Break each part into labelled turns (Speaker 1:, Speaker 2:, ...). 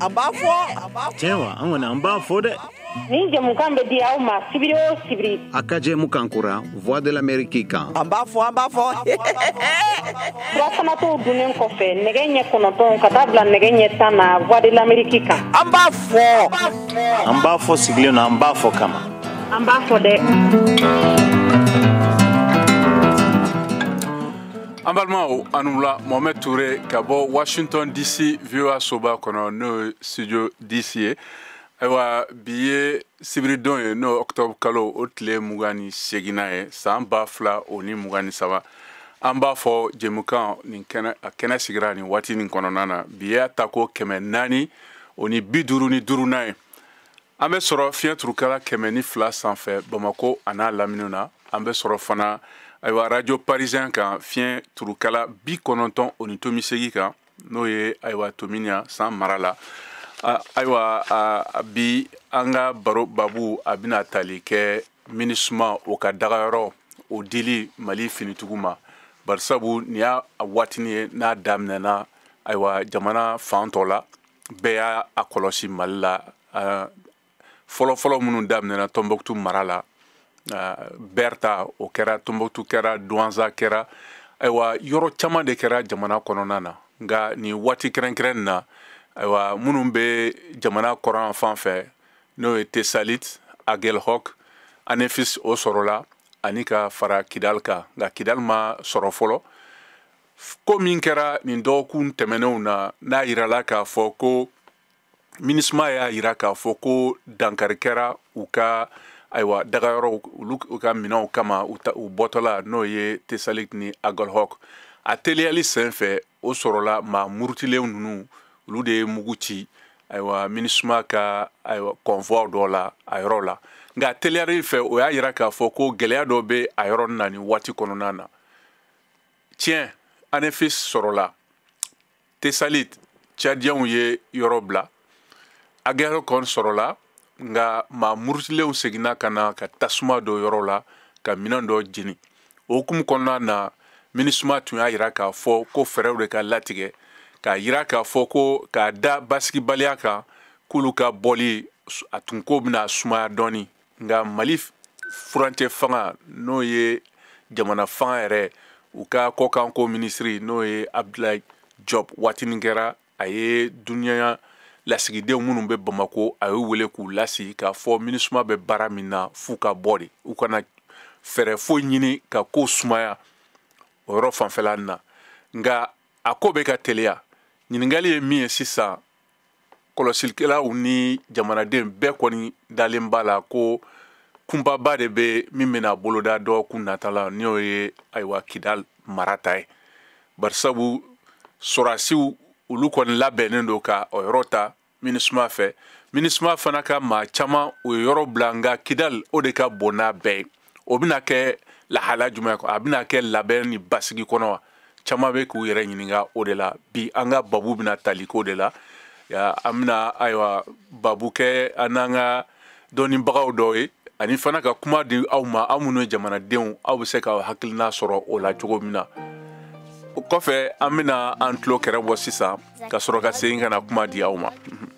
Speaker 1: An b'a fɔ tiɲɛ wa an kɔni an b'a fɔ dɛ nin jɛmukan bɛ
Speaker 2: di aw ma sibiri o sibiri a ka jɛmukan kura
Speaker 1: voix de l'amérique kan an b'a fɔ an b'a
Speaker 2: fɔ surafana to dunnen kɔfɛ nɛgɛ ɲɛ kɔnɔntɔn ka taa bila nɛgɛ ɲɛ tan na voix de l'amérique kan an b'a fɔ
Speaker 3: an b'a
Speaker 1: fɔ sigilen na an b'a fɔ kama An b'a
Speaker 2: fɔ
Speaker 4: dɛ an balimaw aw ni wula mohamɛd ture ka bɔ washington dc voa soba kɔnɔ n'o ye studio dc ye ayiwa bi ye sibiridon ye n'o octobre kalo o tile mugan ni seginnan ye san ba fila o ni mugan ni saba an b'a fɔ jɛmukan nin kɛnɛ a kɛnɛ sigira nin waati nin kɔnɔna na bi y'a tako kɛmɛ naani o ni bi duuru ni duurunan ye an bɛ sɔrɔ fiɲɛ turukala kɛmɛ ni fila sanfɛ bamako an'a laminiw na an bɛ sɔrɔ fana ayiwa arajo parisien kan fiɲɛ turukala bi kɔnɔntɔn o ni tomi segin kan n'o ye ayiwa tominya san mara la ayiwa bi an ka baro babu a bɛna tali kɛ minisuma o ka dagayɔrɔ o dili mali finitigiw ma barisabu nin y'a waatinin ye n'a daminɛna ayiwa jamana fan tɔ la bɛɛ y'a kɔlɔsi mali la fɔlɔfɔlɔ minnu daminɛna tɔnbɔkutu mara la ber ta o kɛra tɔnbɔkutu kɛra duwanza kɛra ayiwa yɔrɔ caman de kɛra jamana kɔnɔna na nka nin waati kɛrɛnkɛrɛnnen na ayiwa minnu bɛ jamana kɔrɔn fan fɛ n'o ye tesalit agelhɔk anefis o sɔrɔla ani ka fara kidal kan nka kidal ma sɔrɔ fɔlɔ ko min kɛra nin dɔgɔkun tɛmɛnenw na n'a yirala k'a fɔ ko minisuma y'a yira k'a fɔ ko dankari kɛra u ka ayiwa dagayɔrɔw olu ka minɛnw kama u bɔtɔ la n'o ye tesalit ni agelhɔk a teliyali sen fɛ o sɔrɔla maa murutilen ninnu olu de ye mugu ci ayiwa minisuma ka ayiwa convoiw dɔ la a yɔrɔ la nka teliyali fɛ o y'a yira k'a fɔ ko gɛlɛya dɔ bɛ a yɔrɔ na nin waati kɔnɔna na tiɲɛ anefis sɔrɔla tesalit cadiyɛnw ye yɔrɔ bila agelhɔk sɔrɔla nka maa murutilenw seginna ka na ka tasuma don yɔrɔ la ka minɛn dɔ jeni o hukumu kɔnɔna na minisuma tun y'a yira k'a fɔ ko fɛɛrɛw de ka latigɛ k'a yira k'a fɔ ko k'a da basigibaliya kan k'olu ka bɔli a tun k'o bɛna sumaya dɔɔni nka mali furancɛ fanga n'o ye jamana fanga yɛrɛ u ka kɔkanko minisiri n'o ye abdulayi job waatinin kɛra a ye duniya lasigidenw minnu bɛ bamako a y'u wele k'u lasigi k'a fɔ minisuma bɛ baara min na f'u ka bɔ de u kana fɛɛrɛ foyi ɲini ka ko sumaya o yɔrɔ fanfɛla na nka a ko bɛ ka teliya ɲininkali ye min ye sisan kɔlɔsilikɛlaw ni jamanaden bɛɛ kɔni dalen b'a la ko kunbaba de bɛ min bɛna boloda dɔgɔkun nata la n'o ye ayiwa kidal mara ta ye barisabu sɔrɔdasiw olu kɔni labɛnnen don ka o yɔrɔ ta minisuma fɛ minisuma fana ka maa caman o ye yɔrɔ bila nka kidal o de ka bon n'a bɛɛ ye o bɛna kɛ lahala jumɛn kɔnɔ a bɛna kɛ labɛn ni basigi kɔnɔ wa caman bɛ k'u yɛrɛ ɲininka o de la bi an ka babu bɛna tali k'o de la an bɛna ayiwa babu kɛ an n'an ka dɔnnibagaw dɔw ye ani fana ka kuma di aw ma aw minnu ye jamanadenw aw bɛ se ka hakilina sɔrɔ o la cogo min na o kɔfɛ an bɛna an tulo kɛrɛ bɔ sisan ka sɔrɔ ka segin ka na kuma di aw ma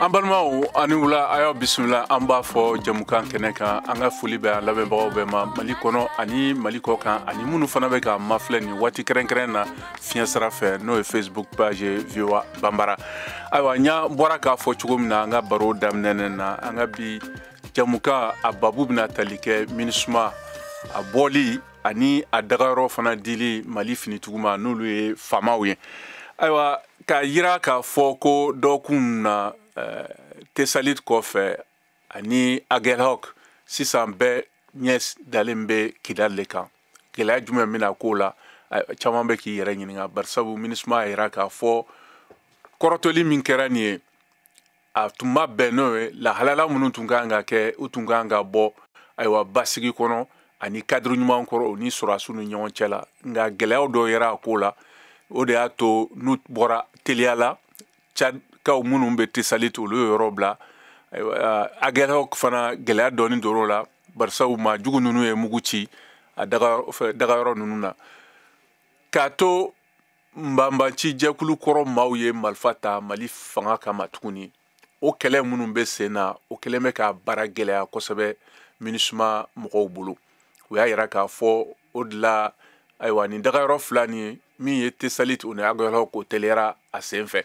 Speaker 3: an balimaw
Speaker 4: aw ni wula a y'aw bisimila an b'a fɔ jamukan kɛnɛ kan an ka foli bɛ an lamɛnbagaw bɛɛ ma mali kɔnɔ ani mali kɔkan ani minnu fana bɛ k'an mafilɛ nin waati kɛrɛnkɛrɛn na fiɲɛ sira fɛ n'o ye facebook page voa banbara ayiwa n y'a bɔra k'a fɔ cogo min na an ka baro daminɛnen na an ka bi jamukan a babu bɛna tali kɛ minisuma a bɔli ani a dagayɔrɔ fana dili mali finitigiw ma n'olu ye famaw ye ayiwa k'a yira k'a fɔ ko dɔgɔkun na eh, tesalit kɔfɛ ani agelhok sisan bɛɛ ɲɛ dalen bɛ kidali le kan gɛlɛya jumɛn bɛna k'o la eh, caman bɛ k'i yɛrɛ ɲininka barisabu minisuma y'a yira k'a fɔ kɔrɔtɔli min kɛra nin ye a tun ma bɛn n'o ye lahala la minnu tun ka kan ka kɛ u tun ka kan ka bɔ ayiwa basigi kɔnɔ ani kadiri ɲuman kɔrɔ u ni sɔrɔdasiw ni ɲɔgɔn cɛ la nka gɛlɛyaw dɔw yera a ko la o de y'a to n'u bɔra teliya la cadkaw minnu bɛ tesalit olu ye yɔrɔ bila agelhok fana gɛlɛya dɔɔni donn'o la barisabu maa jugu ninnu ye mugu ci a dagayɔrɔ ninnu na k'a to banbaanci jɛkulu kɔrɔ maaw ye marifa ta mali fanga kama tuguni o kɛlɛ minnu bɛ sen na o kɛlen bɛ ka baara gɛlɛya kosɛbɛ minisuma mɔgɔw bolo u y'a yira k'a fɔ o de la ayiwa nin dagayɔrɔ fila nin min ye tesalit o ni agelhok o teliyara a sen fɛ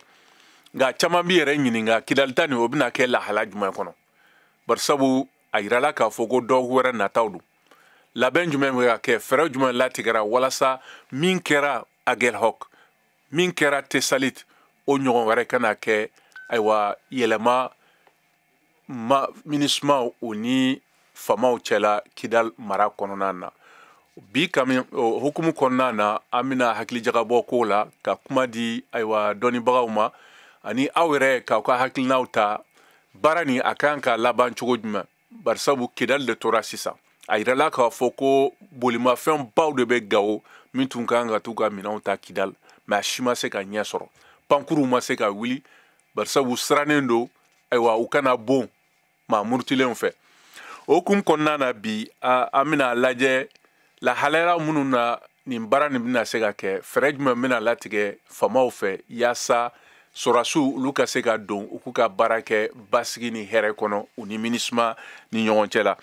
Speaker 4: nka caman b'i yɛrɛ ɲininka kidali ta nin o bɛna kɛ lahala jumɛn kɔnɔ barisabu a yirala k'a fɔ ko dɔgɔkun wɛrɛ nataw don labɛn jumɛn bɛ ka kɛ fɛɛrɛ jumɛn latigɛra walasa min kɛra agelhok min kɛra tesalit o ɲɔgɔn wɛrɛ kana kɛ ayiwa yɛlɛma minisuma o ni famaw cɛla kidal mara kɔnɔna na bi kami o hukumu kɔnɔna na an bɛna hakilijagabɔ k'o la ka kuma di ayiwa dɔnnibagaw ma ani aw yɛrɛ k'aw ka hakilinaw ta baara nin a kan ka laban cogo jumɛn barisabu kidali de tora sisan a yirala k'a fɔ ko bolimafɛn baw de bɛ gawo min tun ka kan ka t'u ka minɛnw ta kidali mɛ a si ma se ka ɲɛ sɔrɔ pankuruw ma se ka wuli barisabu sirannen don ayiwa u kana bon maa murutilenw fɛ o hukumu kɔnɔna na bi an bɛna a lajɛ lahalaya minnu na nin baara nin bɛna se ka kɛ fɛɛrɛ jumɛn bɛna latigɛ famaw fɛ yaasa sɔrasiw olu ka se ka don u k'u ka baara kɛ basigi ni hɛrɛ kɔnɔ u ni minisuma ni ɲɔgɔn cɛ la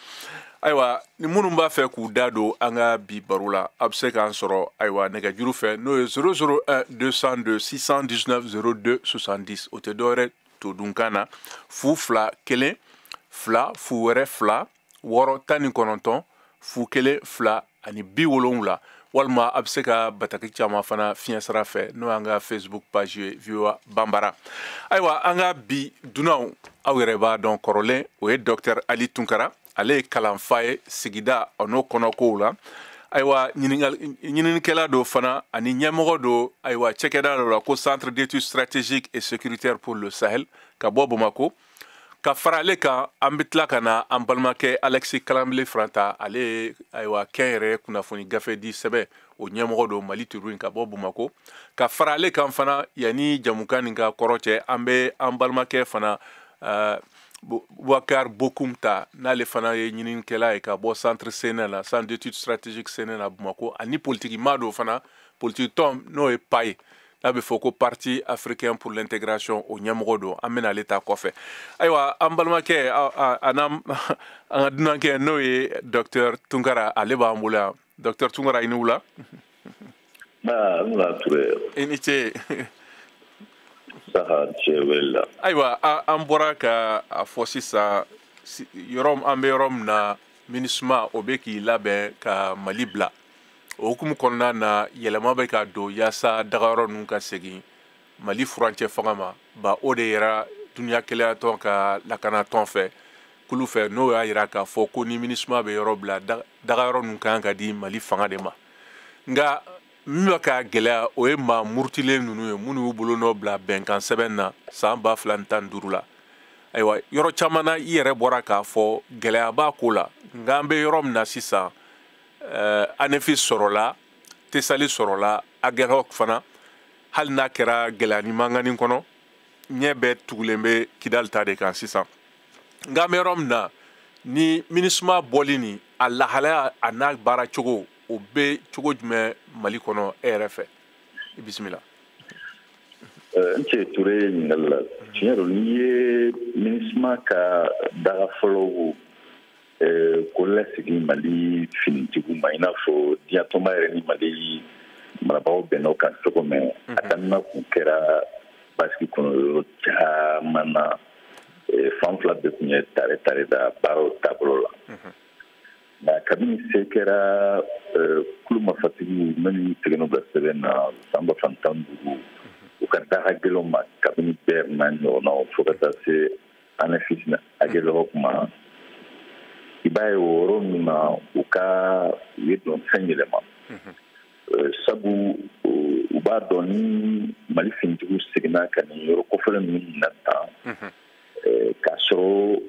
Speaker 4: ayiwa ni minnu b'a fɛ k'u da don an ka bi baro la a bɛ se k'an sɔrɔ ayiwa nɛgɛjuru fɛ n'o ye 001 202 619 02 70 o tɛ dɔwɛrɛ to dunkan na fu fila kelen fila fu wɛrɛ fila wɔɔrɔ tan ni kɔnɔntɔn fu kelen fila ani bi wolonwula walima a bɛ se ka bataki c'an ma fana fiɲɛ sira fɛ n'o y'an ka facebook page ye voa banbara ayiwa an ka bi dunanw aw yɛrɛ b'a dɔn kɔrɔlen o ye docteur ali tunkara ale ye kalanfa ye sigida o n'o kɔnɔkow la ayiwa ɲininikɛla don fana ani ɲɛmɔgɔ don ayiwa cakɛda dɔ la ko centre d'études stratégiques et sécuritaires pour le sahel ka bɔ bamako ka fara ale kan an bɛ tila ka na an balimakɛ alexis kalambry fana ta ale ye ayiwa kɛnyɛrɛye kunnafoni gafe di sɛbɛn o ɲɛmɔgɔ don mali tribune ka bɔ bamako ka fara ale kan fana yanni jɛmukan nin ka kɔrɔcɛ an bɛ an balimakɛ fana bubakar bokum ta n'ale fana ye ɲininikɛla ye ka bɔ centre sene la centre d'étude stratégique sene la bamako ani politiki maa don fana politiki tɔn n'o ye pai n'a bɛ fɔ ko parti africain pour l'intégration o ɲɛmɔgɔ don an bɛna ale ta kɔfɛ ayiwa an balimakɛ an ka dunankɛ n'o ye docteur tunkara ale b'an bolo yan docteur tunkara i ni wula i ni ce ayiwa an bɔra ka a fɔ sisan yɔrɔ an bɛ yɔrɔ min na minisuma o bɛ k'i labɛn ka mali bila o hukumu kɔnɔna na yɛlɛma bɛ ka don yaasa dagayɔrɔ ninnu ka segin mali furancɛ fanga ma bawo o de yɛrɛ duniya kelenyatɔn ka lakanatɔn fɛ kulu fɛ n'o y'a yira k'a fɔ ko ni minisuma bɛ yɔrɔ bila dagayɔrɔ ninnu kan ka di mali fanga de ma nka min bɛ ka gɛlɛya o ye maa murutilen ninnu ye minnu y'u bolo nɔ bila bɛnkan sɛbɛn na san ba fila ni tan ni duuru la ayiwa yɔrɔ caman na i yɛrɛ bɔra k'a fɔ gɛlɛya b'a ko la nka an bɛ yɔrɔ min na sisan uh, anefisi sɔrɔla tesali sɔrɔla agelhok fana hali n'a kɛra gɛlɛya ni mankan kɔnɔ ɲɛ bɛɛ tugulen bɛ kidali ta de kan sisan nka an bɛ yɔrɔ min na ni minisuma bɔli nin a lahalaya a n'a baara cogo o bɛ cogo jumɛn mali kɔnɔ e yɛrɛ fɛ i
Speaker 5: bisimila eh, i ni ce ture ɲininkali la tiɲɛ don n'i ye minisuma ka daga fɔlɔw kɔlasegin mali finitigiw ma i n'a fɔ diɲɛtɔnba yɛrɛ ni mali marabagaw bɛnn'o kan cogo min mhm. a daminɛ kun kɛra basigi kɔnɔ yɔrɔ caman na fan fila bɛɛ kun ye tare tare da baaraw taabolo la mhm. nka kabini se kɛra kulu mafatigiw minnu y'u tɛgɛnɔ bila sɛbɛn na san ba fila ni tan ni duuru mhm. u ka daga gɛlɛnw ma kabini bɛr n'a ɲɔgɔnnaw fo ka taa se anefisi agelhok ma i b'a ye o yɔrɔ ninnu na u ka u ye dɔnsen yɛlɛma sabu u b'a dɔn ni mali finitigiw seginna ka nin yɔrɔ kofɔlen ninnu minɛ tan k'a sɔrɔ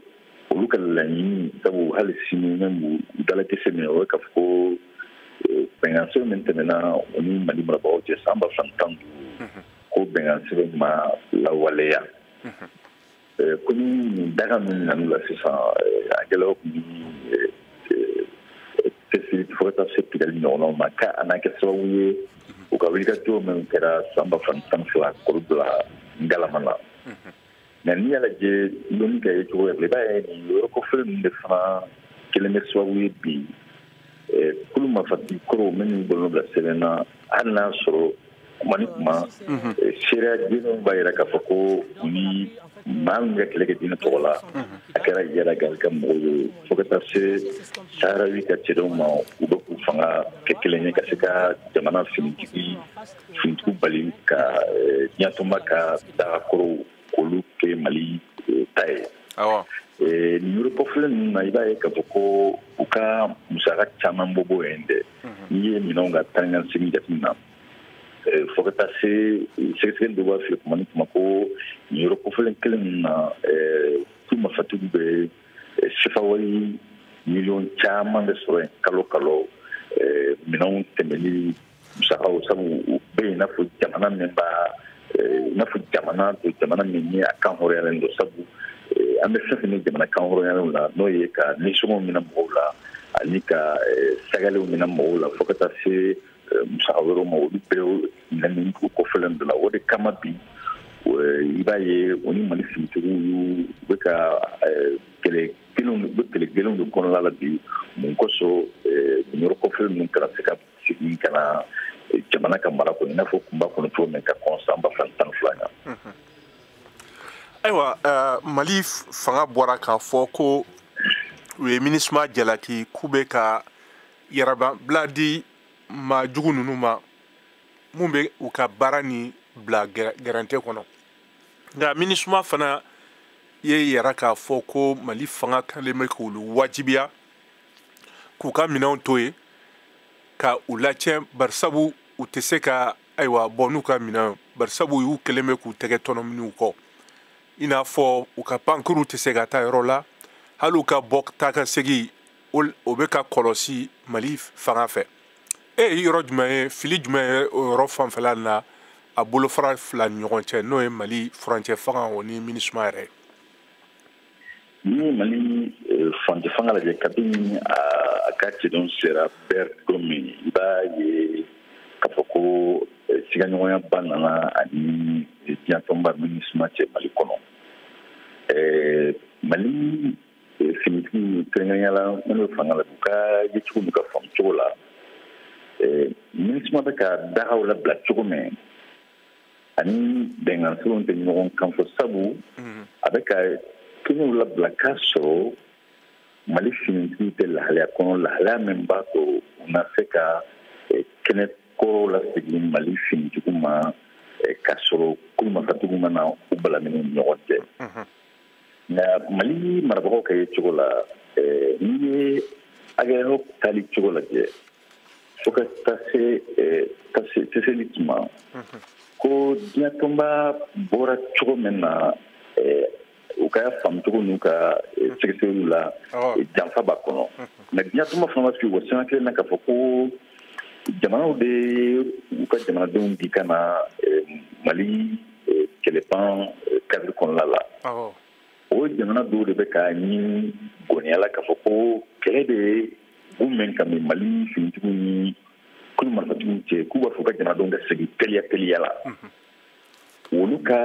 Speaker 5: olu ka laɲini sabu hali sini même u dalakisɛ min o ye k'a fɔ ko bɛnkan sɛbɛn min tɛmɛna u ni mali marabagaw cɛ san ba fila ni tan ni duuru ko bɛnkan sɛbɛn ma lawaleya ko ni nin daga minɛn'u la sisan agelhok ni tesali fo ka taa se kidali ɲɔgɔnnaw ma ka a na kɛ sababu ye u ka wulikajɔ min kɛra san ba fila ni tan ni fila k'olu bila ngalama la mais n'i y'a lajɛ loni ka yecogo yɛrɛ i b'a ye nin yɔrɔ kofɔlen ninnu de fana kɛlen bɛ sababu ye bi kulu mafatigi kɔrɔw minnu y'u bolo nɔ bila sɛbɛn na hali n'a sɔrɔ kuma ni kuma seereya jɛlenw b'a yira k'a fɔ ko u ni maa minnu ka kɛlɛ kɛ diinɛ tɔgɔ la a kɛra iyad ag gali ka mɔgɔw ye fo ka taa se saharawi ka cɛdenw ma u bɛ k'u fanga kɛ kelen ye ka se ka jamana finitigi finitigiw bali ka diɲɛtɔnba ka daga kɔrɔw k'olu kɛ mali eh, ta ye eh, nin yɔrɔ kofɔlen ninnu na i b'a ye k'a fɔ ko u ka musaka caman bɛ bɔ yen dɛ mhm. n'i ye minɛnw ka taa ni ka segin jateminɛ eh, fo ka taa se sɛgɛsɛgɛli dɔ b'a fɛ kuma ni kuma ko nin yɔrɔ kofɔlen kelen ninnu na kulu mafatigiw bɛ sifawari miliyɔn caman de sɔrɔ yen kalo kalo minɛnw tɛmɛni musakaw sabu u bɛ yen n'a fɔ jamana min b'a eh, n'a fɔ jamana to jamana min ni a kan hɔrɔnyalen don sabu eh, an bɛ fɛn fɛn ni jamana kan hɔrɔnyalenw la n'o ye ka nisɔngɔw minɛ mɔgɔw la ani ka eh, sagalenw minɛ mɔgɔw la fo ka taa se musaka wɛrɛw ma olu bɛ minɛ nin dugu kofɔlen dɔw la o de kama bi i b'a ye o ni mali finitigiw y'u bɛ ka kɛlɛ gɛlɛnw bɛ kɛlɛ gɛlɛnw de kɔnɔna la bi mun kosɔn yɔrɔ kofɔlen ninnu kana se ka segin ka na jamana ka mara kɔnɔ i n'a fɔ tun b'a kɔnɔ cogo min ka kɔn san ba fila tan ni fila ɲɛ ayiwa
Speaker 4: mali fanga bɔra k'a fɔ ko u ye minisuma jalaki k'u bɛ ka yɛrɛbila di maa jugu ninnu ma min bɛ u ka baara nin bila gɛrɛntɛ kɔnɔ nka minisuma fana y'a yira k'a fɔ ko mali fanga kɛlen bɛ k'olu wajibiya k'u ka minɛnw to yen ka u lacɛn barisabu u tɛ se ka ayiwa bɔ n'u ka minɛnw barisabu u kɛlen bɛ k'u tɛgɛ tɔnɔmi u kɔ i n'a fɔ u ka pankurunw tɛ se ka taa yɔrɔ la hali u ka bɔ taa ka segin o bɛ ka kɔlɔsi mali fanga fɛ e ye yɔrɔ jumɛn ye fili jumɛn ye o yɔrɔ fanfɛla na a bolofara fila ni ɲɔgɔn cɛ n'o ye mali furancɛ fanga o ni minisuma yɛrɛ ye
Speaker 5: n'i ye mali eh, furancɛ fanga lajɛ kabini a ka cɛdenw sera bɛr don min i b'a ye k'a fɔ ko eh, sigaɲɔgɔnya ba nana a ni diɲɛtɔnba minisima cɛ mali kɔnɔ eh, mali finitigiw kɛrɛnkɛrɛnnenya la minnu bɛ fanga la u ka yecogo n'u ka faamucogo la minisima bɛ ka dagaw labila cogo min a ni bɛnkan sirilenw tɛ ɲɔgɔn kan fɔ sabu mhm. a bɛ ka kɛnɛw labila k'a sɔrɔ mali finitigiw tɛ lahalaya kɔnɔ lahalaya min b'a to u na se ka eh, kɛnɛ kɔrɔw lasegin mali finitigiw ma eh, k'a sɔrɔ kulu mafatigiw ma na u balamini ɲɔgɔn cɛ mhm. nka mali marabagaw ka yecogo la eh, n'i ye agɛlɔk tali cogo lajɛ fo ka taa se tɛsali tuma ko diɲɛtɔnba bɔra cogo min na u ka faamucogo n'u ka sɛgɛsɛgɛliw la janfa b'a kɔnɔ nka diɲɛtɔnba fana ma sigi o sanga kelen na k'a fɔ ko jamanaw de u ka jamanadenw di ka na mali kɛlɛban kadiri kɔnɔna la o jamana dɔw de bɛ k'a ɲini goniya la k'a fɔ ko kɛlɛ de ye u mɛn ka min mali finitigiw ni kulu marifatigiw cɛ k'u b'a fɛ u ka jamanadenw ka segin teliya teliya la olu ka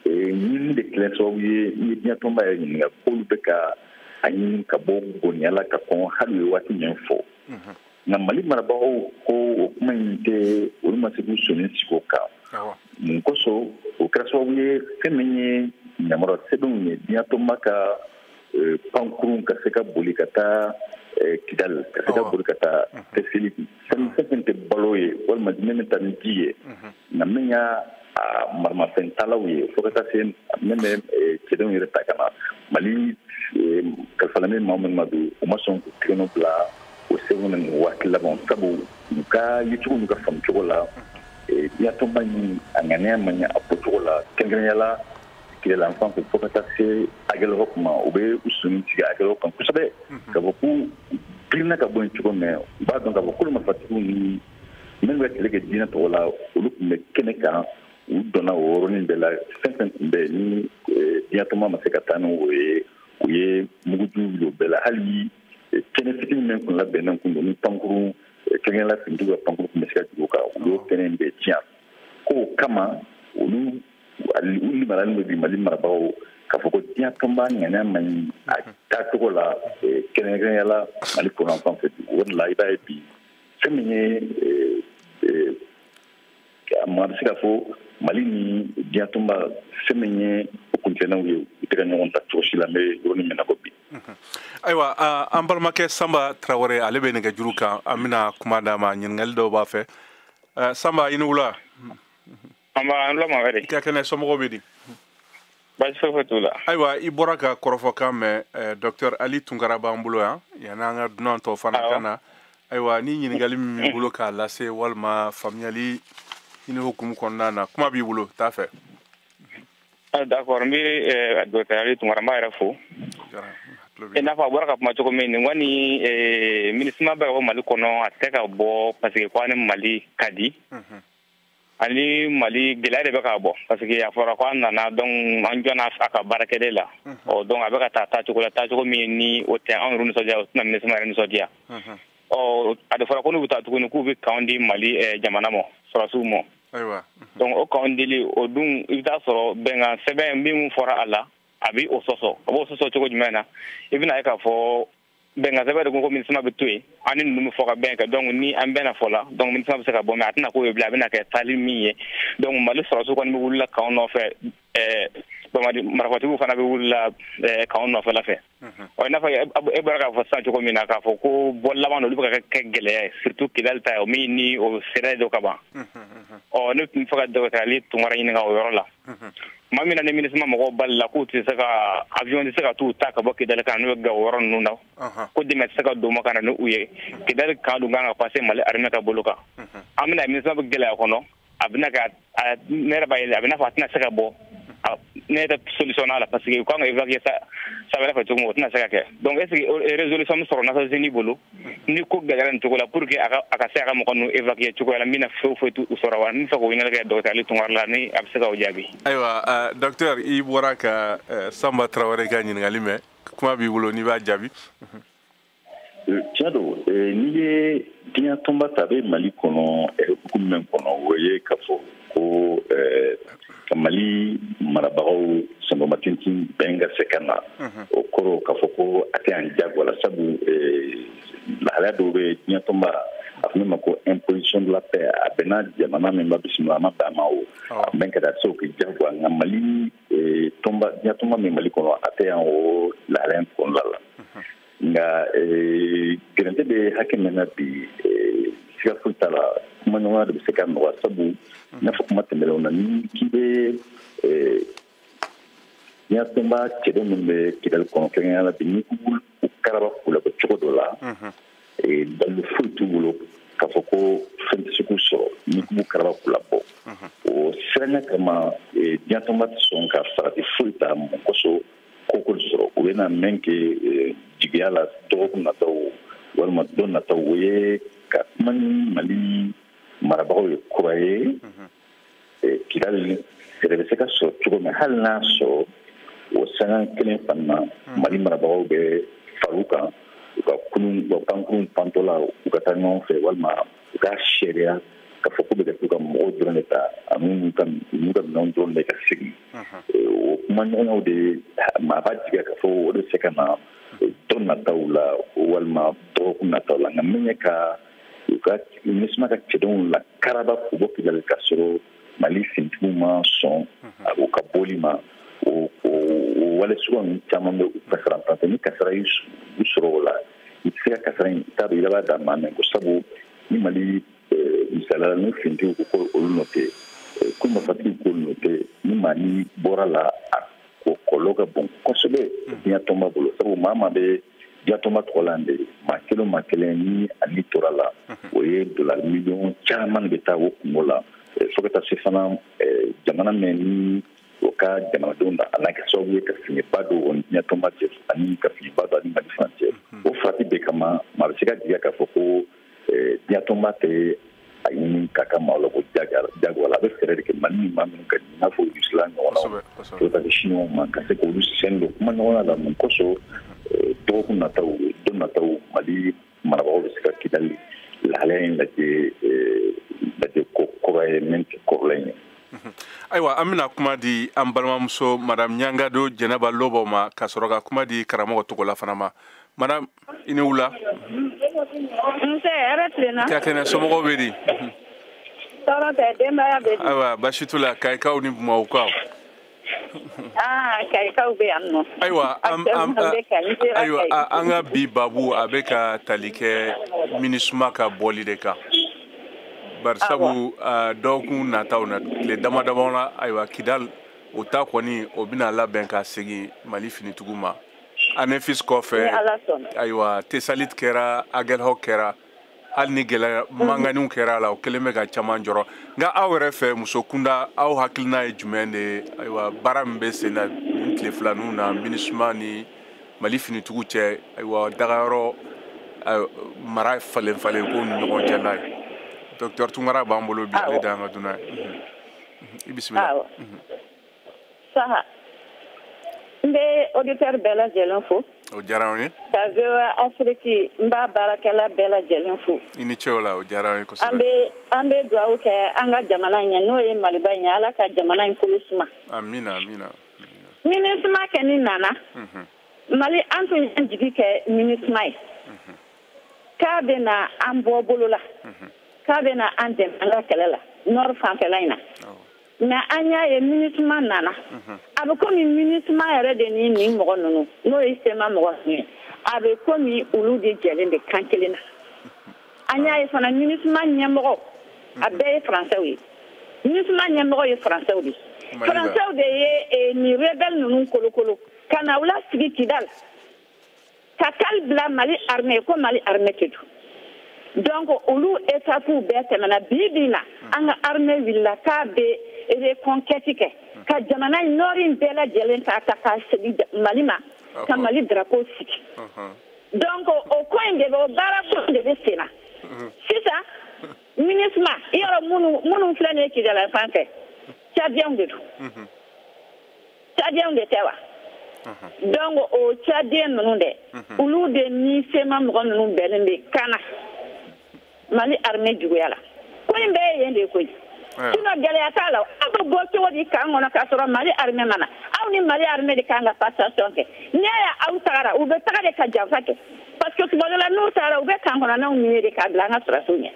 Speaker 5: ɲini de kɛlen sababu ye n'i ye diɲɛtɔnba yɛrɛ ɲininka k'olu bɛ ka a ɲini ka bɔ goniya la ka kɔn hali u ye waati min fɔ nka mali marabagaw ko o kuma in tɛ olu ma se k'u sɔnin sigi o kan mun kosɔn o kɛra sababu ye fɛn min ye yamaruya sɛbɛnw ye diɲɛtɔnba ka e, pankurun ka se ka boli ka taa e, kidali ka se ka boli ka taa tɛsali fɛn fɛn tɛ balo ye walima min bɛ taa ni ji ye nka min y'a maramafɛntalaw ye fo ka taa se min bɛ cɛdenw yɛrɛ ta ka na mali kalifalen bɛ maa minnu ma bi u ma sɔn k'u tɛgɛnɔ bila o sɛbɛn na nin waati laban sabu u ka yecogo n'u ka faamu cogo la diɲɛtɔnba in a ŋaniya man ɲi a bɔcogo la kɛrɛnkɛrɛnya la kidali fan fɛ fo ka taa se agɛlihɔki kuma u bɛ u sɔnin sigi agɛlihɔki kan kosɛbɛ k'a fɔ k'u girinna ka bɔ yen cogo min u b'a dɔn k'a fɔ kulu marifatigiw ni minnu bɛ kɛlɛ kɛ diinɛ tɔgɔ la olu tun bɛ kɛnɛ kan u donna o yɔrɔnin bɛɛ la fɛn fɛn tun bɛ ni eh, diɲɛtɔnba ma se ka taa ni o ye u ye mugujugu wuli o bɛɛ la hali eh, kɛnɛ fitinin min tun labɛnnen tun don ni pankurun eh, kɛrɛnkɛrɛnla finitigiw ka pankurun tun bɛ se ka jigin o kan olu y'o kɛnɛ in bɛɛ tiɲɛ k'o kama olu u limaniyalen don bi mali marabagaw k'a fɔ ko diɲɛ tɔnba ŋaniya man ɲi a taacogo la kɛrɛnkɛrɛnya la mali kɔrɔnfan fɛ o de la i b'a ye bi fɛn min ye maa bɛ se k'a fɔ mali ni diɲɛ tɔnba fɛn min ye o kuntilennaw ye u tɛ ka ɲɔgɔn ta cogo si la an bɛ yɔrɔnin min na ko bi
Speaker 4: ayiwa an balimakɛ sanba tarawele ale bɛ nɛgɛ juru kan an bɛna kuma d'a ma ɲininkali dɔw b'a fɛ sanba i ni wula
Speaker 6: Nba, an tulo b'aw la dɛ. I ka kɛnɛ, somɔgɔw bɛ
Speaker 4: di?
Speaker 6: Baasi foyi foyi t'u la. Ayiwa, i bɔra
Speaker 4: ka kɔrɔfɔkan mɛn, eh, docteur Ali Tunkara b'an bolo yan, yanni an ka dunan tɔw fana ka na. Ayiwa, ni ɲininkali min b'i bolo k'a lase walima faamuyali ɲini hukumu kɔnɔna na, kuma b'i bolo, t'a
Speaker 6: fɛ. Ah, d'accord, n bɛ eh, docteur Ali Tunkara, n b'a yɛrɛ fo. I n'a fɔ a bɔra ka kuma cogo min, nin kɔni eh, MINUSMA bɛ ka bɔ Mali kɔnɔ, a tɛ ka bɔ parce que ko a ni Mali ka di. Unhun. ani mali gɛlɛya de bɛ ka bɔ parce que a fɔra ko an nana donc an jɔna a ka baarakɛden la ɔ donc a bɛ ka taa taacogo la taacogo min ni o tɛ anw yɛrɛ nisɔndiya o tɛna minisima yɛrɛ nisɔndiya ɔ a de fɔra ko n'u bɛ taa tuguni k'u bɛ kanw di mali eh, jamana ma sɔrɔsiw ma donc o kanw dili o dun i bɛ taa sɔrɔ bɛnkan sɛbɛn min fɔra a la a bɛ o sɔsɔ a b'o sɔsɔ cogo jumɛn na i bɛna ye k'a fɔ bɛnkan sɛbɛn de ko ko minisima bɛ to yen an ni ninnu bɛ fɔ ka bɛn kɛ donc ni an bɛnna fɔ la donc minisima bɛ se ka bɔ mais a tɛna k'o ye bilen a bɛna kɛ taali min ye donc mali sɔrɔsiw kɔni bɛ wulila kanw nɔfɛ eh, banbaanci marafatigiw fana bɛ wulila eh, kanw nɔfɛla fɛ mhm. ɔ i n'a fɔ e bɔra k'a fɔ sisan cogo min na k'a fɔ ko bɔ laban olu bɛ ka kɛ gɛlɛya ye surtout kidali ta ye o min ni o sɛrɛ dɔ ka ban mhm, mhm. ɔ ne tun bɛ fɛ ka dɔgɔtɔrɔ ali tunkara ɲininka o yɔrɔ la tuma min na ni minisima mɔgɔw balila k'u tɛ se ka avion tɛ se ka t'u ta ka bɔ kidali ka na n'u ye gawo yɔrɔ ninnu na ko dɛmɛ tɛ se ka don ma ka na ni u ye kidali kan dun kan ka passer mali armée ka bolo kan an bɛna minisima bɛ gɛlɛya kɔnɔ a bɛna ka ne yɛrɛ b'a ye a bɛ n'a fɔ a tɛna se ka bɔ ne yɛrɛ solution n'a la parce que u kan ka évacuer sira wɛrɛ fɛ cogo min o tɛna se ka kɛ donc est ce que résolution bɛ sɔrɔ nations unies bolo ni ko gɛlɛyara nin cogo la pour que a ka se a ka mɔgɔ ninnu évacuer cogoya la min na foyi foyi t'u sɔrɔ wa n bɛ fɛ k'o ɲininkali kɛ docteur Ali Tunkara la ni a bɛ se k'o jaabi. ayiwa uh, docteur
Speaker 4: i bɔra ka uh, Sanba Tarawele ka ɲininkali mɛn kuma b'i bolo n'i b'a jaabi.
Speaker 5: tiɲɛ don n'i ye diɲɛ tɔnba ta a bɛ Mali kɔnɔ hukumu min kɔnɔ o ye k'a fɔ. ko ka mali marabagaw sanbamatintin bɛn ka se ka na o kɔrɔ k'a fɔ ko a tɛ yan jagoya la sabu lahalaya dɔw bɛ diɲɛtɔnba a fɔ min ma ko imposition de la paix a bɛnna jamana min ma bisimila a ma bɛn a ma o a bɛ ka taa se o kɛ jagoya nka mali tɔnba diɲɛtɔnba min mali kɔnɔ a tɛ yan o lahalaya kɔnɔna la nka gɛrɛntɛ bɛ hakɛ min na bi siga foyi t'a la kumaɲɔgɔnya de bɛ se k'a nɔgɔya sabu i n'a fɔ kuma tɛmɛnenw na ni k'i bɛ diɲɛtɔnba cɛden minnu bɛ kidali kɔnɔ kɛrɛnkɛrɛnya la bi ni k'u karaba k'u labɔ cogo dɔ la dalilu foyi t'u bolo k'a fɔ ko fɛn tɛ se k'u sɔrɔ ni k'u karaba k'u labɔ o siranya kama diɲɛtɔnba tɛ sɔn ka farati foyi ta mun kosɔn koko sɔrɔ u bɛna min kɛ eh, jigiya la dɔgɔkun nataw walima don nataw o ye ka kuma ni mali marabagaw ye kura ye mhm. eh, kidali fɛɛrɛ bɛ se ka sɔrɔ cogo min hali n'a sɔrɔ o sanga kelen fana mhm. mali marabagaw bɛ far'u kan u ka kunun u ka pankurun pantɔla u ka taa ɲɔgɔn fɛ walima u k'a seereya ka fɔ ko bɛ kɛ k'u ka mɔgɔw dɔrɔn de ta ani u ka minɛnw dɔrɔn de ka segin o kuma ɲɔgɔnyaw de maa b'a jigiya ka fɔ o de se ka na don nataw la walima dɔgɔkun nataw la nka min ye ka u ka minisuma ka cɛdenw la karaba k'u bɔ kidali ka sɔrɔ mali finitigiw ma sɔn u ka bɔli ma o wale suguya ninnu caman bɛ u kasara ni kasara y'u sɔrɔ o la i tɛ se ka kasara in t'a dɔn i laban da maa min kun sabu ni mali misaliyala ni finitigiw ko ko olu nɔ tɛ ko marifatigiw k'olu nɔ tɛ ni maa ni bɔra a la a kɔlɔlɔ ka bon kosɛbɛ diɲɛ tɔnba bolo sabu maa maa bɛ diɲɛ tɔnba tɔgɔ la de maa kelen maa kelen ni a ni tora a la o ye dolari miliyɔn caman de bɛ taa o kunko la fo ka taa se fana jamana min ni o ka jamanadenw na a na kɛ sababu ye ka fiɲɛba don o diɲɛtɔnba cɛ ani ka fiɲɛba don a ni mali fana cɛ o farati bɛɛ kama maa bɛ se ka jigiya k'a fɔ ko diɲɛtɔnba tɛ a ɲini k'a ka maa labɔ jagoya la a bɛ fɛɛrɛ de kɛ mali ni maa minnu ka i n'a fɔ rusila ɲɔgɔnnaw to ka siniwaw ma ka se k'olu sen don kuma ɲɔgɔnya la mun kosɔn dɔgɔkun nataw don nataw mali marabagaw bɛ se ka kidali lahalaya in lajɛ lajɛ ko kura ye min tɛ kɔrɔlen ye ayiwa
Speaker 4: an bɛna kuma di an balimamuso madame ɲangado jɛnɛba lobɔ ma ka sɔrɔ ka kuma di karamɔgɔ togola fana ma madame i ni
Speaker 2: wula nse hɛrɛ tilenna ka kɛnɛ somɔgɔw bɛ di tɔɔrɔ tɛ denbaya bɛ di ayiwa basi t'u la
Speaker 4: kayikaw ni bamakɔkaw
Speaker 2: Ah,
Speaker 4: ayiwa ayiwa an ka bi babu a bɛ ka tali kɛ minisuma ka bɔli de kan barisabu dɔgɔkun nataw na tile dama dama na ayiwa kidali o ta kɔni o bɛna labɛn ka segin mali finitigiw ma anefisi kɔfɛ ayiwa tesalit kɛra agɛlhɔk kɛra hali ni gɛlɛya manganiw kɛra a la o kelen bɛ ka caman jɔrɔ nka aw yɛrɛ fɛ muso kunda aw hakilina ye jumɛn de ye ayiwa baara min bɛ sen na nin tile filaninw na minisuma ni mali finitigiw cɛ ayiwa dagayɔrɔ mara falen falen ko ni ɲɔgɔn cɛ n'a ye docteur tunkara b'an bolo bi ale de y'an ka dunan ye i bisimila
Speaker 2: saha n bɛ auditeur bɛɛ lajɛlen fo o diyara an
Speaker 4: ye ka
Speaker 2: voa afrique n b'a baarakɛla bɛɛ lajɛlen fo i ni ce o la o diyara
Speaker 4: an ye kosɛbɛ an bɛ an bɛ dugawu
Speaker 2: kɛ an ka jamana in ye n'o ye maliba in ye ala ka jamana in kolo suma amina
Speaker 4: amina
Speaker 2: minisuma kɔni nana mhm. mali an tun y'an jigi kɛ minisuma ye mhm. k'a bɛna an bɔ bolo la mhm. k'a bɛna an dɛmɛ an ka kɛlɛ la nord fanfɛla in na mais an y'a ye minusma nana mhm. a bɛ komi minusma yɛrɛ de ni nin mɔgɔ ninnu n'o ye sema mɔgɔ ninnu ye a bɛ komi olu de jɛlen de kan kelen na mhm. an y'a ye fana minusma ɲɛmɔgɔ a mhm. bɛɛ ye faransɛw ye minusma ɲɛmɔgɔ ye faransɛw de faransɛw de ye eh, nin rebɛl ninnu kolokolo ka na u lasigi kidal ka kali bila mali armée ko mali armée tɛ don donc olu étapes bɛɛ tɛmɛna bi bi na hmm. an ka armée wulila k'a bɛ reconquête kɛ hmm. ka jamana in nord in bɛɛ lajɛlen k'a ta k'a segin mali ma ah, ka mali drapeau sigi uh-huh. donc o ko in de bɛ o baara ko in de bɛ sen na hmm. sisan minusma ye yɔrɔ minnu minnu bila nin ye kidali fan fɛ tchadiens de don tchadiens de tɛ wa donc o tchadien ninnu dɛ olu de ni sema mɔgɔ ninnu bɛnnen bɛ kan na mali armée juguya la ko in bɛɛ ye yen de koyi sinon gɛlɛya t'a la aw bɛ bɔ cogo di kan kɔnɔ k'a sɔrɔ mali armée ma na aw ni mali armée de kan ka passation kɛ n'i y'a ye aw tagara u bɛ taga de ka janfa kɛ parce que tuma dɔ la n'u tagara u bɛ kan kɔnɔnaw miner de k'a bila an ka sɔrɔsiw ɲɛ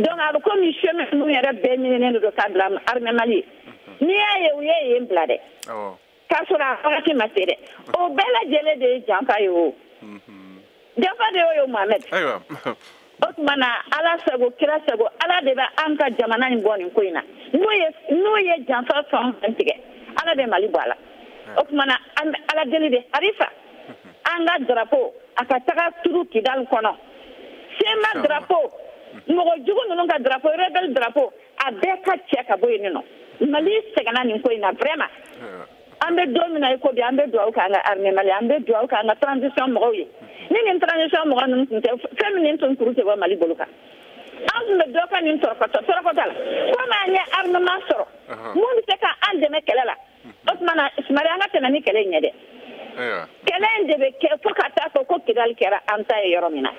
Speaker 2: donc a bɛ komi chemin ninnu yɛrɛ bɛɛ minenen de don k'a bila armée mali ye n'i y'a ye u ye yen bila dɛ k'a sɔrɔ a wagati ma se dɛ o bɛɛ lajɛlen de ye janfa ye o mhm. janfa de y'o ye mohamɛd o tuma na ala sago kira sago ala de bɛ an ka jamana in bɔ nin ko in na n'u ye n'u ye janfa fɛn o fɛn tigɛ ala bɛ mali bɔ a la o tuma na an bɛ ala deli de harifa mhm. an ka darapo a ka taga turu kidali kɔnɔ sema darapo mɔgɔ jugu ninnu ka darapo rebɛli darapo a bɛɛ ka cɛ ka bɔ yen sinon mali sɛgɛnna nin ko in na vraiment an bɛ don min na i ko bi an bɛ dugawu k'an ka armée mali an bɛ dugawu k'an ka transition mɔgɔw ye ni nin transition mɔgɔ ninnu tun tɛ fɛn min nin tun kuru tɛ bɔ mali bolo kan an tun bɛ dɔ ka nin tɔrɔkɔtɔ tɔrɔkɔtɔ la komi an ye armement sɔrɔ min bɛ se ka an dɛmɛ kɛlɛ la o tuma na sumari an ka tɛmɛ ni kɛlɛ in ye dɛ kɛlɛ in de bɛ kɛ fo ka taa fɔ ko kidali kɛra an ta ye yɔrɔ min na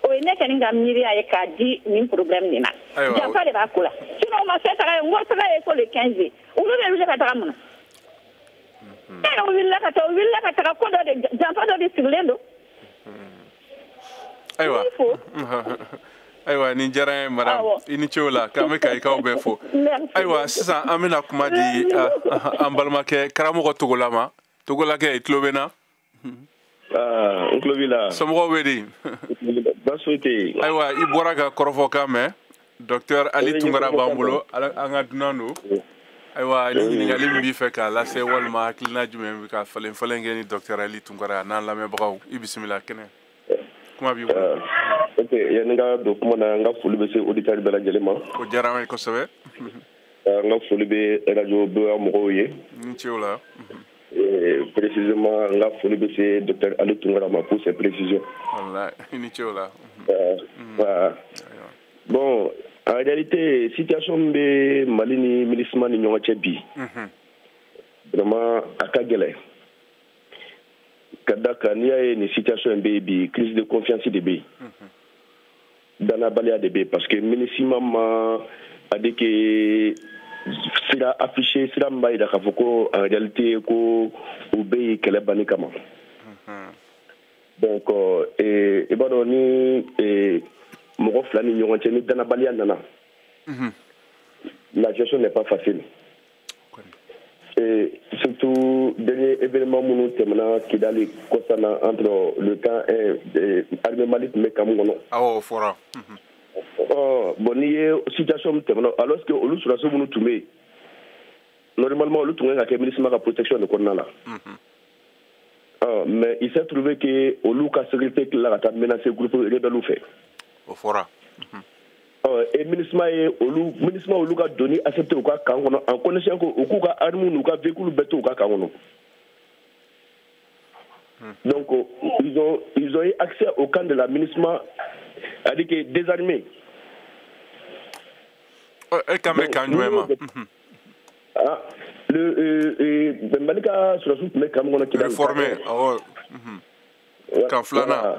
Speaker 2: o ye ne kɔni ka miiriya ye k'a di nin problème nin na janfa de b'a ko la sinon ma fɛ taga ye n ko taga ye ko le 15 olu bɛ wuli ka taga mun na e yɛrɛ wulila ka taa u wulila ka taga ko dɔ de janfa dɔ de sigilen don
Speaker 4: ayiwa ayiwa ni jara ye madam i ni cew la k'an bɛ kayikaw bɛɛ fo ayiwa sisan an bɛna kuma di an balimakɛ karamɔgɔ togola ma togolakɛ i tulo bɛ n na Ah, n
Speaker 7: tulo b'i la. somɔgɔw bɛ
Speaker 4: di. baasi
Speaker 7: foyi tɛ yen. ayiwa i bɔra
Speaker 4: ka kɔrɔfɔkan mɛn docteur ali tunkara b'an bolo an ka dunan don. ayiwa ni ɲininkali min b'i fɛ k'a lase walima hakilina jumɛn bɛ ka falen falen kɛ ni docteur ali tunkara ani an lamɛnbagaw i bisimila kɛnɛ. kuma b'i bolo
Speaker 7: ok yanni n ka don kuma na n ka foli bɛ se auditeurs bɛɛ lajɛlen ma o diyara an ye
Speaker 4: kosɛbɛ n ka
Speaker 7: foli bɛ radio boya mɔgɔw ye i ni ce o la
Speaker 4: précisément
Speaker 7: n ka foli bɛ se docteur ali tunkara ma pour ses précisions walayi i
Speaker 4: ni ce o
Speaker 7: la bon en réalité situation min bɛ mali ni minusma ni ɲɔgɔn cɛ bi vraiment a ka gɛlɛn ka da kan n'i y'a ye nin situation in bɛ yen bi crise de confiance de bɛ yen dannabaliya de bɛ yen parce que minusma ma adeke sira affiché sira min b'a jira k'a fɔ ko en réalité ko u bɛ yen kɛlɛ banni kama donc eh, i b'a dɔn ni eh, mɔgɔ fila ni ɲɔgɔn cɛ ni dannabaliya nana la gestion n'est pas facile surtout dernier événement minnu tɛmɛna kidali kɔsa in na entre le camp armée mali tun bɛ camp min kɔnɔ awɔ o fɔra bon n'i ye situation min tɛmɛna alors que olu sɔrɔdasi minnu tun bɛ yen normalement olu tun ka kan ka kɛ minusma ka protection de kɔnɔna la mais il s'est trouvé que olu ka sécurité tilala ka taa menacé groupe rebellew fɛ o fɔra e minusma ye olu minusma olu ka donni accepté u ka camp kɔnɔ en connaissant que u k'u ka armes n'u ka véhicules bɛɛ to u ka camp kɔnɔ donc ils ont ils ont eu accès au camp de la minusma c'est-à-dire que
Speaker 4: désarmé e kan bɛ camp jumɛn ma ah
Speaker 7: le euh, euh, mali ka sɔrɔdasiw tun bɛ camp min kɔnɔ kidali réformé awɔ
Speaker 4: camp filanan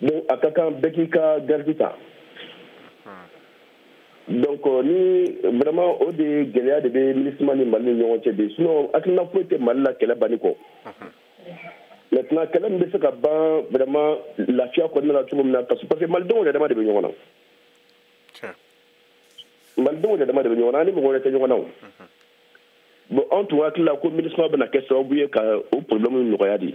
Speaker 7: donc a ka kan bɛɛ k'i ka garde ta donc euh, ni vraiment o de gɛlɛya de bɛ minusma ni mali ni ɲɔgɔn cɛ bi sinon hakilina foyi tɛ mali la kɛlɛ banni kɔ maintenant kɛlɛ min bɛ se ka ban vraiment lafiya kɔnɔna la cogo min na parce que parce que malidenw yɛrɛ dama de bɛ ɲɔgɔn na malidenw yɛrɛ dama de bɛ ɲɔgɔn na an ni mɔgɔ wɛrɛ tɛ ɲɔgɔn na o bon anw tun hakili la ko minusma bɛna kɛ sababu ye ka o problème nɔgɔya de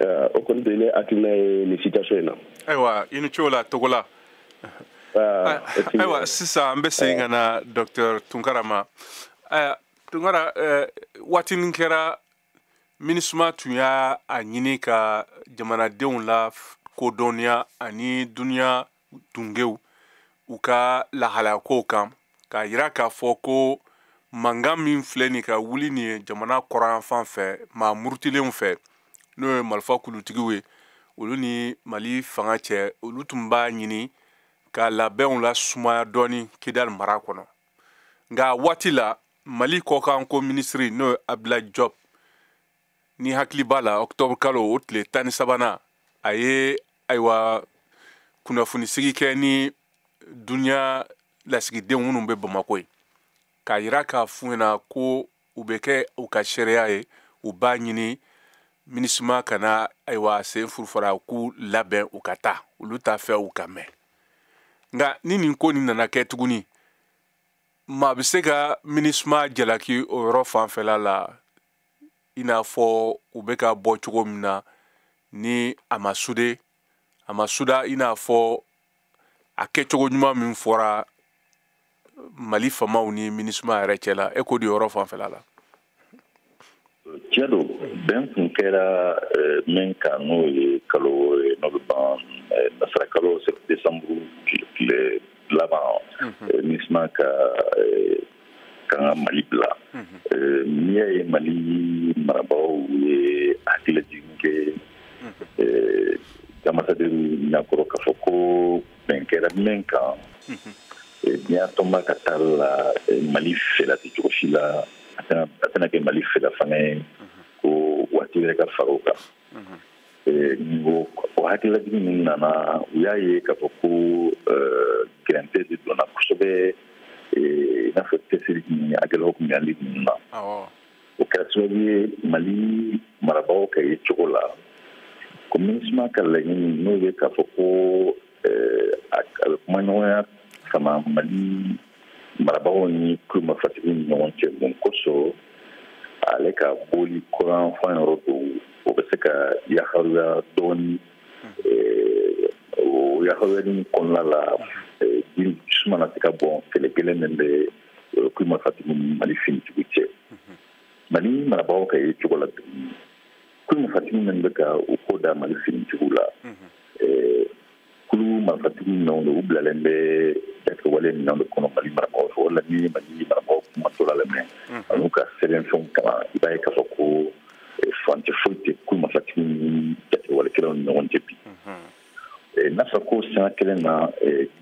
Speaker 7: eh, o kɔni de ne hakilina ye nin situation in na ayiwa i ni ce
Speaker 4: o la togola ah, ayiwa sisan an bɛ segin ka na docteur tunkara ma eh, tunkara eh, waatinin kɛra minusma tun y'a ɲini ka jamanadenw lakodɔnniya ani duniya tungew u ka lahalayakow kan k'a yira k'a fɔ ko mankan min filɛ nin ka wuli nin ye jamana kɔrɔyanfan fɛ maa murutilenw fɛ n'o ye marifa kulutigiw ye olu ni mali fanga cɛ olu tun b'a ɲini ka labɛnw lasumaya dɔɔni kidali mara kɔnɔ nka a waati la mali kɔkanko minisiri n'o ye abdulayi jɔb n'i hakili b'a la octobre kalo o tile tan ni sabanan a ye ayiwa kunnafonisigi kɛ ni duniya lasigidenw minnu bɛ bamako ye k'a yira k'a f'u ɲɛna ko u bɛ kɛ u ka seereya ye u b'a ɲini minisima kana ayiwa sen furufara k'u labɛn u ka taa olu t'a fɛ u ka mɛn nka ni nin ko nin nana kɛ tuguni maa bɛ se ka minisima jalaki o yɔrɔ fanfɛla la i n'a fɔ u bɛ ka bɔ cogo min na ni a ma sude a ma suda i n'a fɔ a kɛcogo ɲuman min fɔra mali famaw ni minisuma yɛrɛ cɛ la e ko di yɔrɔ fanfɛla
Speaker 5: la tiɲɛ don bɛn kun kɛra eh, min kan n'o ye kalo eh, n'o bɛ ban eh, nasara kalo desanburu tile laban minisuma ka kan ka mali bila n'i y'a ye mali marabagaw ye hakililajigin kɛ ambassadeur ɲakɔrɔ k'a fɔ ko bɛn kɛra min kan diɲɛtɔnba ka taa la mali fɛla tɛ cogo si la a tɛna kɛ mali fɛla fana ye ko waati wɛrɛ ka fara o kan o o hakililajigin min nana u y'a ye k'a fɔ ko gɛrɛntɛ de donna kosɛbɛ i n'a fɔ cɛsiri ni hakililaw kun bɛ wale ninnu na o kɛra sababu ye mali marabagaw ka yecogo la ko minisima ka laɲini n'o ye k'a fɔ ko a bɛ kumaɲɔgɔnya sama mali marabagaw ni kulu marifatigi ni ɲɔgɔn cɛ mun kosɔn ale ka bɔli kɔrɔn fan yɔrɔ dɔw o bɛ se ka yaharuya dɔɔni eh, o yaharuyani kɔnɔna la eh, ji suma na se ka bɔn kɛlɛ gɛlɛn min bɛ eh, kulu marifatigi ni mali finitigiw cɛ mali marabagaw ka yecogo la tuguni kulu marifatigi min bɛ ka u ko da mali finitigiw la kulu marifatigi minnu don u bilalen bɛ jatigɛwale minɛn de kɔnɔ mali marabagaw fɛ o la ni mali marabagaw kumatɔla lamɛn an'u ka sɛbɛnfɛnw kalan i b'a ye k'a fɔ ko furancɛ foyi tɛ kulu marifatigi ni jatigɛwale kɛlaw ni ɲɔgɔn cɛ bi n'a fɔra ko sanga kelen na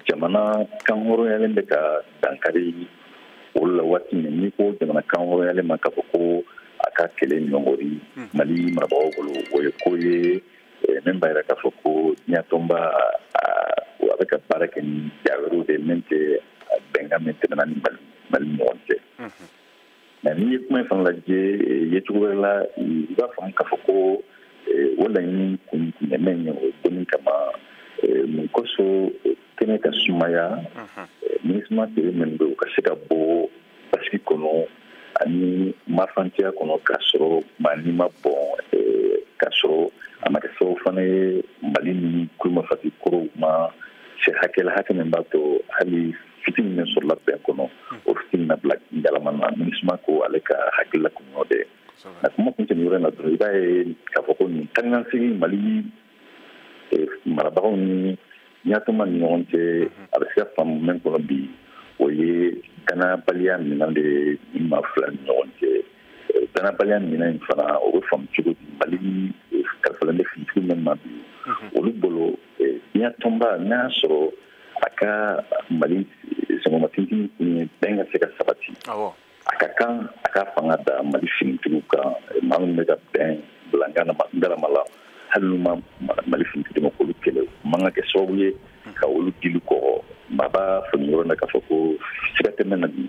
Speaker 5: jamana kan hɔrɔnyalen bɛ ka dankari olu la waati min n'i ko jamana kan hɔrɔnyalen ma k'a fɔ ko a ka kɛlɛ ɲɔngiri mali marabagaw bolo o ye ko ye min b'a yira k'a fɔ ko diɲɛtɔnba a bɛ ka baara kɛ ni ja wɛrɛw de min tɛ bɛnkan min tɛmɛna ni mali ni ɲɔgɔn cɛ mais n'i ye kuma in fana lajɛ yecogo wɛrɛ la i b'a faamu k'a fɔ ko o laɲini kun quand même ye u bɔli kama mun kosɔn kɛnɛ ka sumaya minisima tere min bɛ u ka se ka bɔ basigi kɔnɔ ani mafanciya kɔnɔ k'a sɔrɔ mali ma bɔn k'a sɔrɔ a ma kɛ sababu fana ye mali ni kulu marifatigi kɔrɔw ma se hakɛ la hakɛ min b'a to hali fitini min sɔrɔla bɛn kɔnɔ o fitini na bila ngalama na minisuma ko ale ka hakilila kun y'o de n'a kuma kun tɛmɛ yɔrɔ in na dɔrɔn i b'a ye k'a fɔ ko nin taakasegin mali marabagaw ni diɲɛ tɔnba ni ɲɔgɔn cɛ a bɛ se ka faamu min kɔnɔ bi o ye danabaliya minɛn de ye maa fila ni ɲɔgɔn cɛ danabaliya minɛn in fana o bɛ faamu cogo di mali kalifalen bɛ finitigi min ma bi olu bolo diɲɛ tɔnba n'a y'a sɔrɔ a ka mali sɛgɛnmatigi kun ye bɛn ka se ka sabati a ka kan a ka fanga da mali finitigiw kan maa minnu bɛ ka bɛn bila ngalama la hali n'u ma mali finitigi dɛmɛ k'olu kɛlɛ o man ka kɛ sababu ye ka olu dili kɔgɔ maa b'a faamu yɔrɔ na k'a fɔ ko siga tɛ min na bi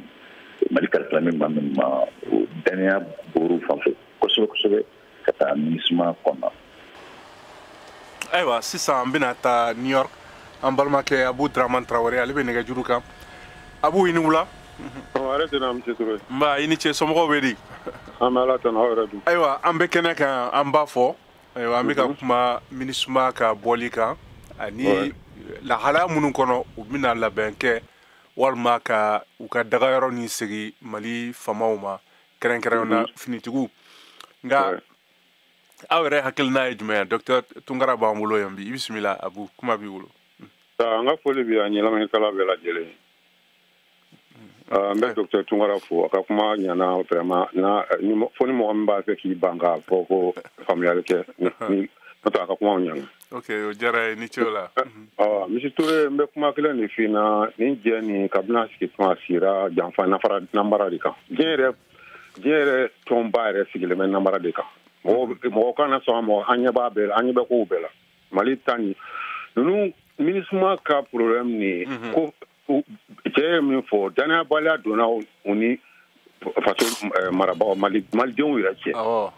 Speaker 5: mali kalifalen bɛ maa minnu ma o dannaya bɔr'u fan fɛ kosɛbɛ kosɛbɛ ka taa minisuma kɔnɔ
Speaker 4: ayiwa sisan an bɛna taa new york an balimakɛ abu draman tarawele ale bɛ nɛgɛjuru kan abu i ni wula
Speaker 8: nba i ni ce somɔgɔw
Speaker 4: bɛ di
Speaker 8: ayiwa an bɛ kɛnɛ
Speaker 4: kan an b'a fɔ ayiwa an bɛ ka mhm. kuma minisuma ka bɔli kan ani lahalaya minnu kɔnɔ u bɛna labɛn kɛ walima ka u ka dagayɔrɔ nin segin mali famaw ma kɛrɛnkɛrɛnnenya na mhm. finitigiw nka aw yɛrɛ hakilina ye jumɛn ye docteur tunkara b'an bolo yan bi i bisimila abu kuma b'i bolo an ka foli
Speaker 8: bɛ an lamɛnnikɛla bɛɛ lajɛlen n bɛ docteur tunkara fo a ka kuma ɲana vraiment fo ni mɔgɔ min b'a fɛ k'i ban k'a fɔ ko faamuyali kɛ n'o tɛ a ka kumaw ɲana ok o diyara n ye i ni
Speaker 4: ce o la ah, monsieur
Speaker 8: ture n bɛ kuma kelen de f'i ɲɛna nin diɲɛ nin kabini a sigi tuma sigira janfa ni nambara de kan diɲɛ yɛrɛ diɲɛ yɛrɛ tɔnba yɛrɛ sigilen bɛ nambara de kan mɔgɔ kana sɔn mɔgɔ an ɲɛ b'a bɛɛ la an ɲɛ bɛ kow bɛɛ la mali ta ni ninnu minisuma ka problème nin ye mhm. ko cɛ ye min fɔ danayabaliya donna u ni faso eh, marabagaw malidenw yɛrɛ cɛ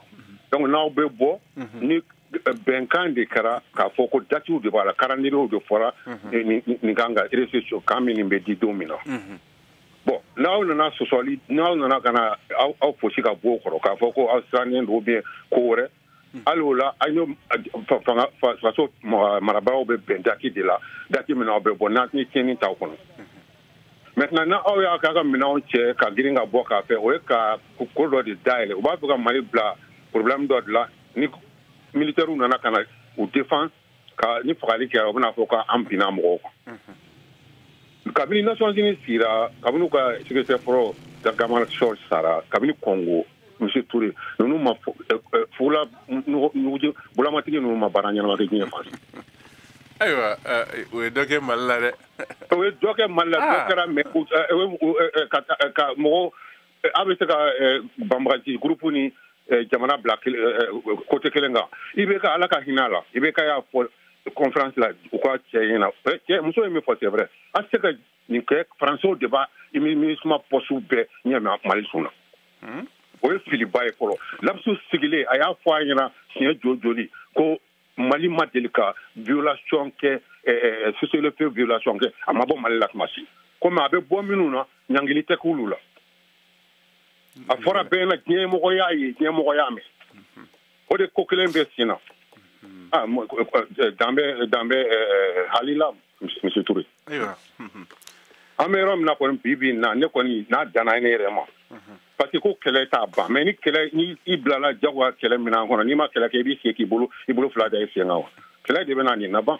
Speaker 8: donc n'aw bɛ bɔ mhm. ni eh, bɛnkan de kɛra k'a fɔ ko datiw de b'a la kalandiriyew de fɔra mhm. eh, nin camp ka réception camp min bɛ di don min na mhm. bon n'aw nana sɔsɔli n'aw nana ka na aw fosi ka bɔ o kɔrɔ k'a fɔ ko aw sirannen don ou bien ko wɛrɛ hali o la aw ni faso marabagaw bɛ bɛn dati de la dati min na aw bɛ bɔ n'a ye tiɲɛni t'aw kɔnɔ maintenant n'aw y'a k'a ka minɛnw cɛ ka girin ka bɔ k'a fɛ o ye ka ko dɔ de dayɛlɛ u b'a fɛ ka mali bila problème dɔ de la ni militaires nana ka na u défense ka ni fagali kɛra u bɛna fɔ k'an binna mɔgɔw kan kabini nations unies sigira kabini u ka secrétaire fɔlɔ dag hammarskjöld sara kabini congo monsieur toure ninnu ma fugula bulamatigi ninnu ma baara ɲɛnama kɛ diɲɛ fan ayiwa
Speaker 4: o ye dɔ kɛ mali la dɛ o ye dɔ
Speaker 8: kɛ mali la dɔ kɛra mais ka mɔgɔ a bɛ se ka banbaganci gurupu ni jamana bila côté kelen kan ibk ala ka hinɛ a la ibk y'a fɔ conférence la u ka cɛ in na cɛ muso ye min fɔ c'est vrai a se ka nin kɛ faransɛw de b'a minusma pɔsiw bɛɛ ɲɛ mali sun na o ye filiba ye fɔlɔ ladsous sigilen a y'a fɔ a ɲɛna siɲɛ jo joli ko mali ma deli ka violation kɛ cessez-le-feu violation kɛ a ma bɔ mali la tuma si komi a bɛ bɔ minnu na ɲangili tɛ k'olu la a fɔra bɛɛ na diɲɛmɔgɔ y'a ye diɲɛmɔgɔ y'a mɛn o de ko kelen bɛ sen na danbɛ danbɛ halila monsieur toure an bɛ yɔrɔ min na kɔni bi bi na ne kɔni n'a danna ne yɛrɛ ma parce que ko kɛlɛ t'a ban mais ni kɛlɛ ni i bilala jagoya kɛlɛ minan kɔnɔ n'i ma kɛlɛ kɛ i b'i sigi k'i bolo i bolo fila da i sen kan wa kɛlɛ de bɛna nin laban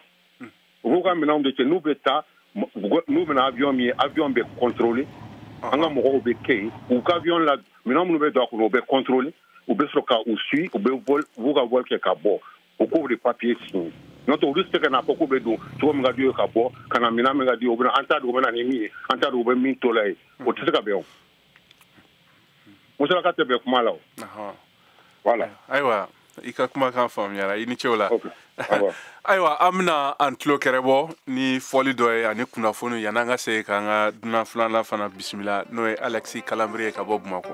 Speaker 8: u b'u ka minɛnw de cɛ n'u bɛ taa n'u bɛ na avion min ye avion bɛ contrôler an ka mɔgɔw bɛ kɛ yen u ka avion la minɛn minnu bɛ don a kɔnɔ u bɛ contrôler u bɛ sɔrɔ ka u suit u bɛ vol u b'u ka vol kɛ ka bɔ u k'o de papier signer n'o tɛ olu tɛ se ka n'a fɔ k'u bɛ don cogo min ka d'u ye ka bɔ ka na minɛn min ka d'u ye u bɛna an t'a dɔn u bɛ na ni min ye an t'a dɔn u bɛ min to la ye o tɛ se ka bɛn o musalaka tɛ bɛn kuma la o voilà ayiwa
Speaker 4: i ka kumakan faamuyara i ni ce o la ayiwa an bɛna an tulo kɛrɛ bɔ ni fɔli dɔ ye ani kunnafoni yan'an ka se k'an ka dunan filanan fana bisimila n'o ye alexis kalambry ye ka bɔ bamakɔ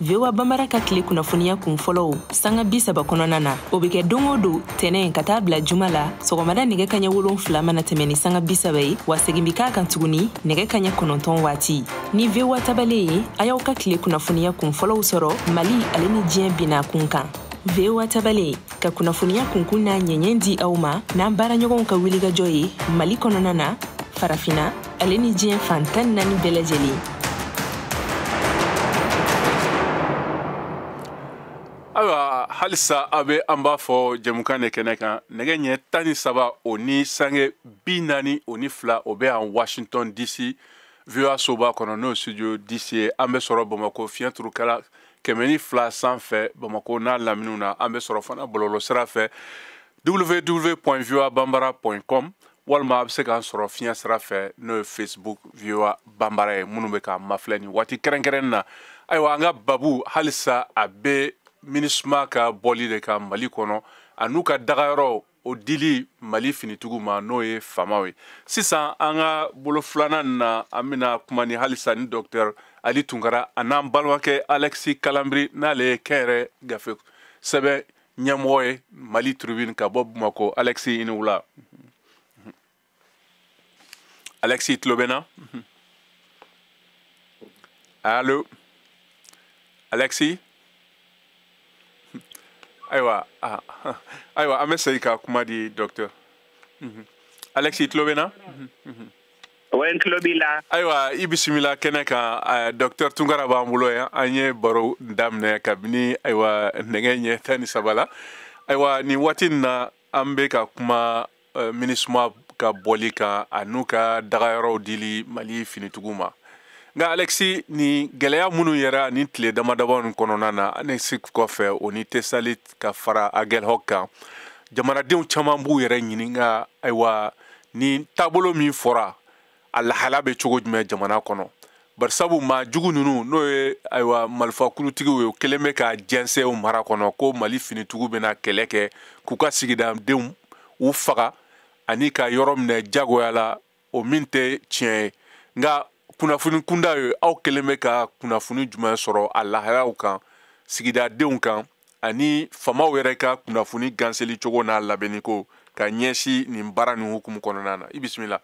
Speaker 9: voa bambara ka tile kunnafoniya kun fɔlɔw sanga bi saba kɔnɔna na o be kɛ don o don tɛnɛ ka taa bila juma la sɔgɔmada nɛgɛ kaɲɛ wolon fila mana tɛmɛ ni sanga bi saba ye wa segin bi k'a kan tuguni nɛgɛ kaɲɛ kɔnɔntɔn waati ni voa tabale ye a y'aw ka tile kunnafoniya kun fɔlɔw sɔrɔ mali ale ni diɲɛ bina kun kan voa tabale ka kunnafoniya kunkun n'a ɲɛɲɛ di aw ma n'an baaraɲɔgɔnw ka wulikajɔ ye mali kɔnɔna na farafina ale ni diɲɛ fan tan ni naani bɛɛ lajɛlen
Speaker 4: ayiwa halisa a bɛ an b'a fɔ jɛmukan de kɛnɛ kan nɛgɛ ɲɛ tan ni saba o ni sanga bi naani o ni fila o bɛ yan washington dc voa soba kɔnɔ n'o studio dc ye an bɛ sɔrɔ bamakɔ fiɲɛ turukala kɛmɛ ni fila sanfɛ bamakɔ n'a laminiw na an bɛ sɔrɔ fana bɔlɔlɔ sira fɛ www voa banbara com walima a bɛ se k'an sɔrɔ fiɲɛ sira fɛ n'o ye facebook voa banbara ye minnu bɛ k'an mafilɛ nin waati kɛrɛnkɛrɛnnen na ayiwa an ka babu halisa a bɛ minisuma ka bɔli de kan mali kɔnɔ an'u ka dagayɔrɔ o dili mali finitigiw ma n'o ye famaw ye sisan an ka bolo filanan na an bɛna kuma ni halisa ni dɔktɛr ali tunkara a n'an balimakɛ alɛksi kalanbiri n'ale ye kɛnyɛrɛ gafe sɛbɛn ɲɛmɔgɔ ye mali tribune ka bɔ bamako alexi i ni wula alexi tulo bɛ n na alo alexi ayiwa ah, ayiwa an bɛ segin ka kuma di docteur alexi tulo bɛ n na
Speaker 10: ayiwa i
Speaker 4: bisimila kɛnɛ kan eh, docteur tunkara b'an bolo yan an ye baro daminɛ kabini ayiwa nɛgɛ ɲɛ tan ni saba la ayiwa nin waati nin na an bɛ ka kuma eh, minisuma ka bɔli kan a n'u ka dagayɔrɔw dili mali finitigiw ma nka alexi nin gɛlɛya minnu yera nin tile damadama nin kɔnɔna na anefis kɔfɛ o ni tesalit ka fara agɛlhɔk kan jamanadenw caman b'u yɛrɛ ɲininka ayiwa ni taabolo min fɔra a lahala bɛ cogo jumɛn jamana kɔnɔ barisabu maa jugu ninnu n'o ye ayiwa malifa kulutigiw ye kɛlen bɛ k'a jɛnsɛn u mara kɔnɔ ko mali finitigiw bɛna kɛlɛ kɛ k'u ka sigidadenw u faga ani ka yɔrɔ minɛ jagoya la o min tɛ tiɲɛ ye nka kunnafoni kunda ye aw kɛlen bɛ ka kunnafoni jumɛn sɔrɔ a lahalaw kan sigidadenw kan ani famaw yɛrɛ ka kunnafoni ganseli cogo n'a labɛnni ko ka ɲɛsin nin baara nin hukumu kɔnɔna na i bisimila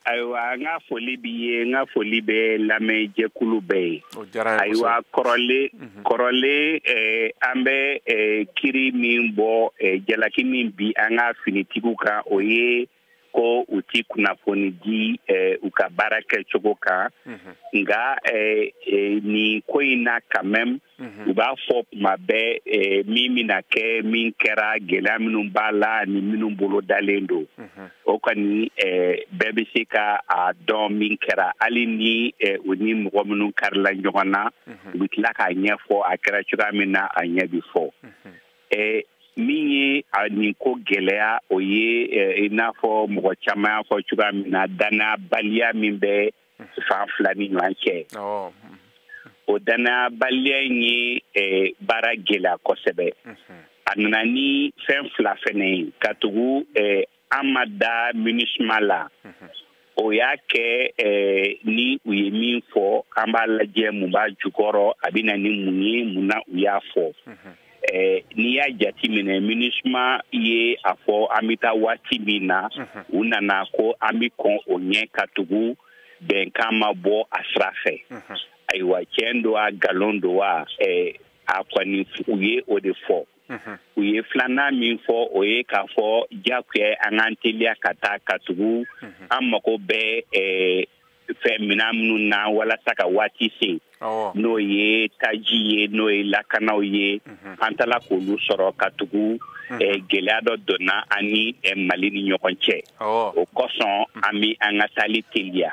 Speaker 10: ayiwa n ka foli b'i ye n ka foli bɛ lamɛn jɛkulu bɛɛ ye ayiwa kɔrɔlen mhm. kɔrɔlen eh, an bɛ eh, kiri min bɔ eh, jalaki min bin an ka finitigiw kan o ye ko u ti kunnafoni di eh, u ka baara kɛcogo kan mm -hmm. nka eh, eh, nin ko in na quand même mm -hmm. u b'a fɔ tuma bɛɛ eh, min bɛna kɛ min kɛra gɛlɛya minnu b'a la ani minnu bolo dalen don mm -hmm. o kɔni eh, bɛɛ bɛ se ka a dɔn min kɛra hali ni eh, u ni mɔgɔ minnu karila ɲɔgɔn na mm -hmm. u bɛ tila k'a ɲɛfɔ a kɛra cogoya min na a ɲɛ bɛ fɔ mm -hmm. eh, min ye a nin ko gɛlɛya o ye eh, i n'a fɔ mɔgɔ caman y'a fɔ cogoya min na dannabaliya min bɛ fan fila ni ɲɔgɔn cɛ oh. o dannabaliya in ye eh, baara gɛlɛya kosɛbɛ mm-hmm. a nana ni fɛn fila fɛnɛ ye ka tugu eh, an ma da minusima la o y'a kɛ eh, ni u ye min fɔ an b'a lajɛ mun b'a jukɔrɔ a bɛ na ni mun ye mun na u y'a fɔ eh, n'i y'a jati minɛ minusima ye a fɔ an bɛ taa waati min na u nana ko an bɛ kɔn o ɲɛ ka tugu bɛnkan ma bɔ a sira fɛ ayiwa tiɲɛ don a nkalon don wa eh, a kɔni u ye o de fɔ u ye filanan min fɔ o ye k'a fɔ diyagoya an k'an teliya ka taa ka tugu an mago bɛ eh, fɛn minan minnu na walasa ka waati se n'o ye taji ye n'o ye lakanaw ye mhm. an t'a la k'olu sɔrɔ ka tugu mhm. eh, gɛlɛya dɔ donna an ni eh, mali ni ɲɔgɔn cɛ o kosɔn mhm. an bɛ an ka taali teliya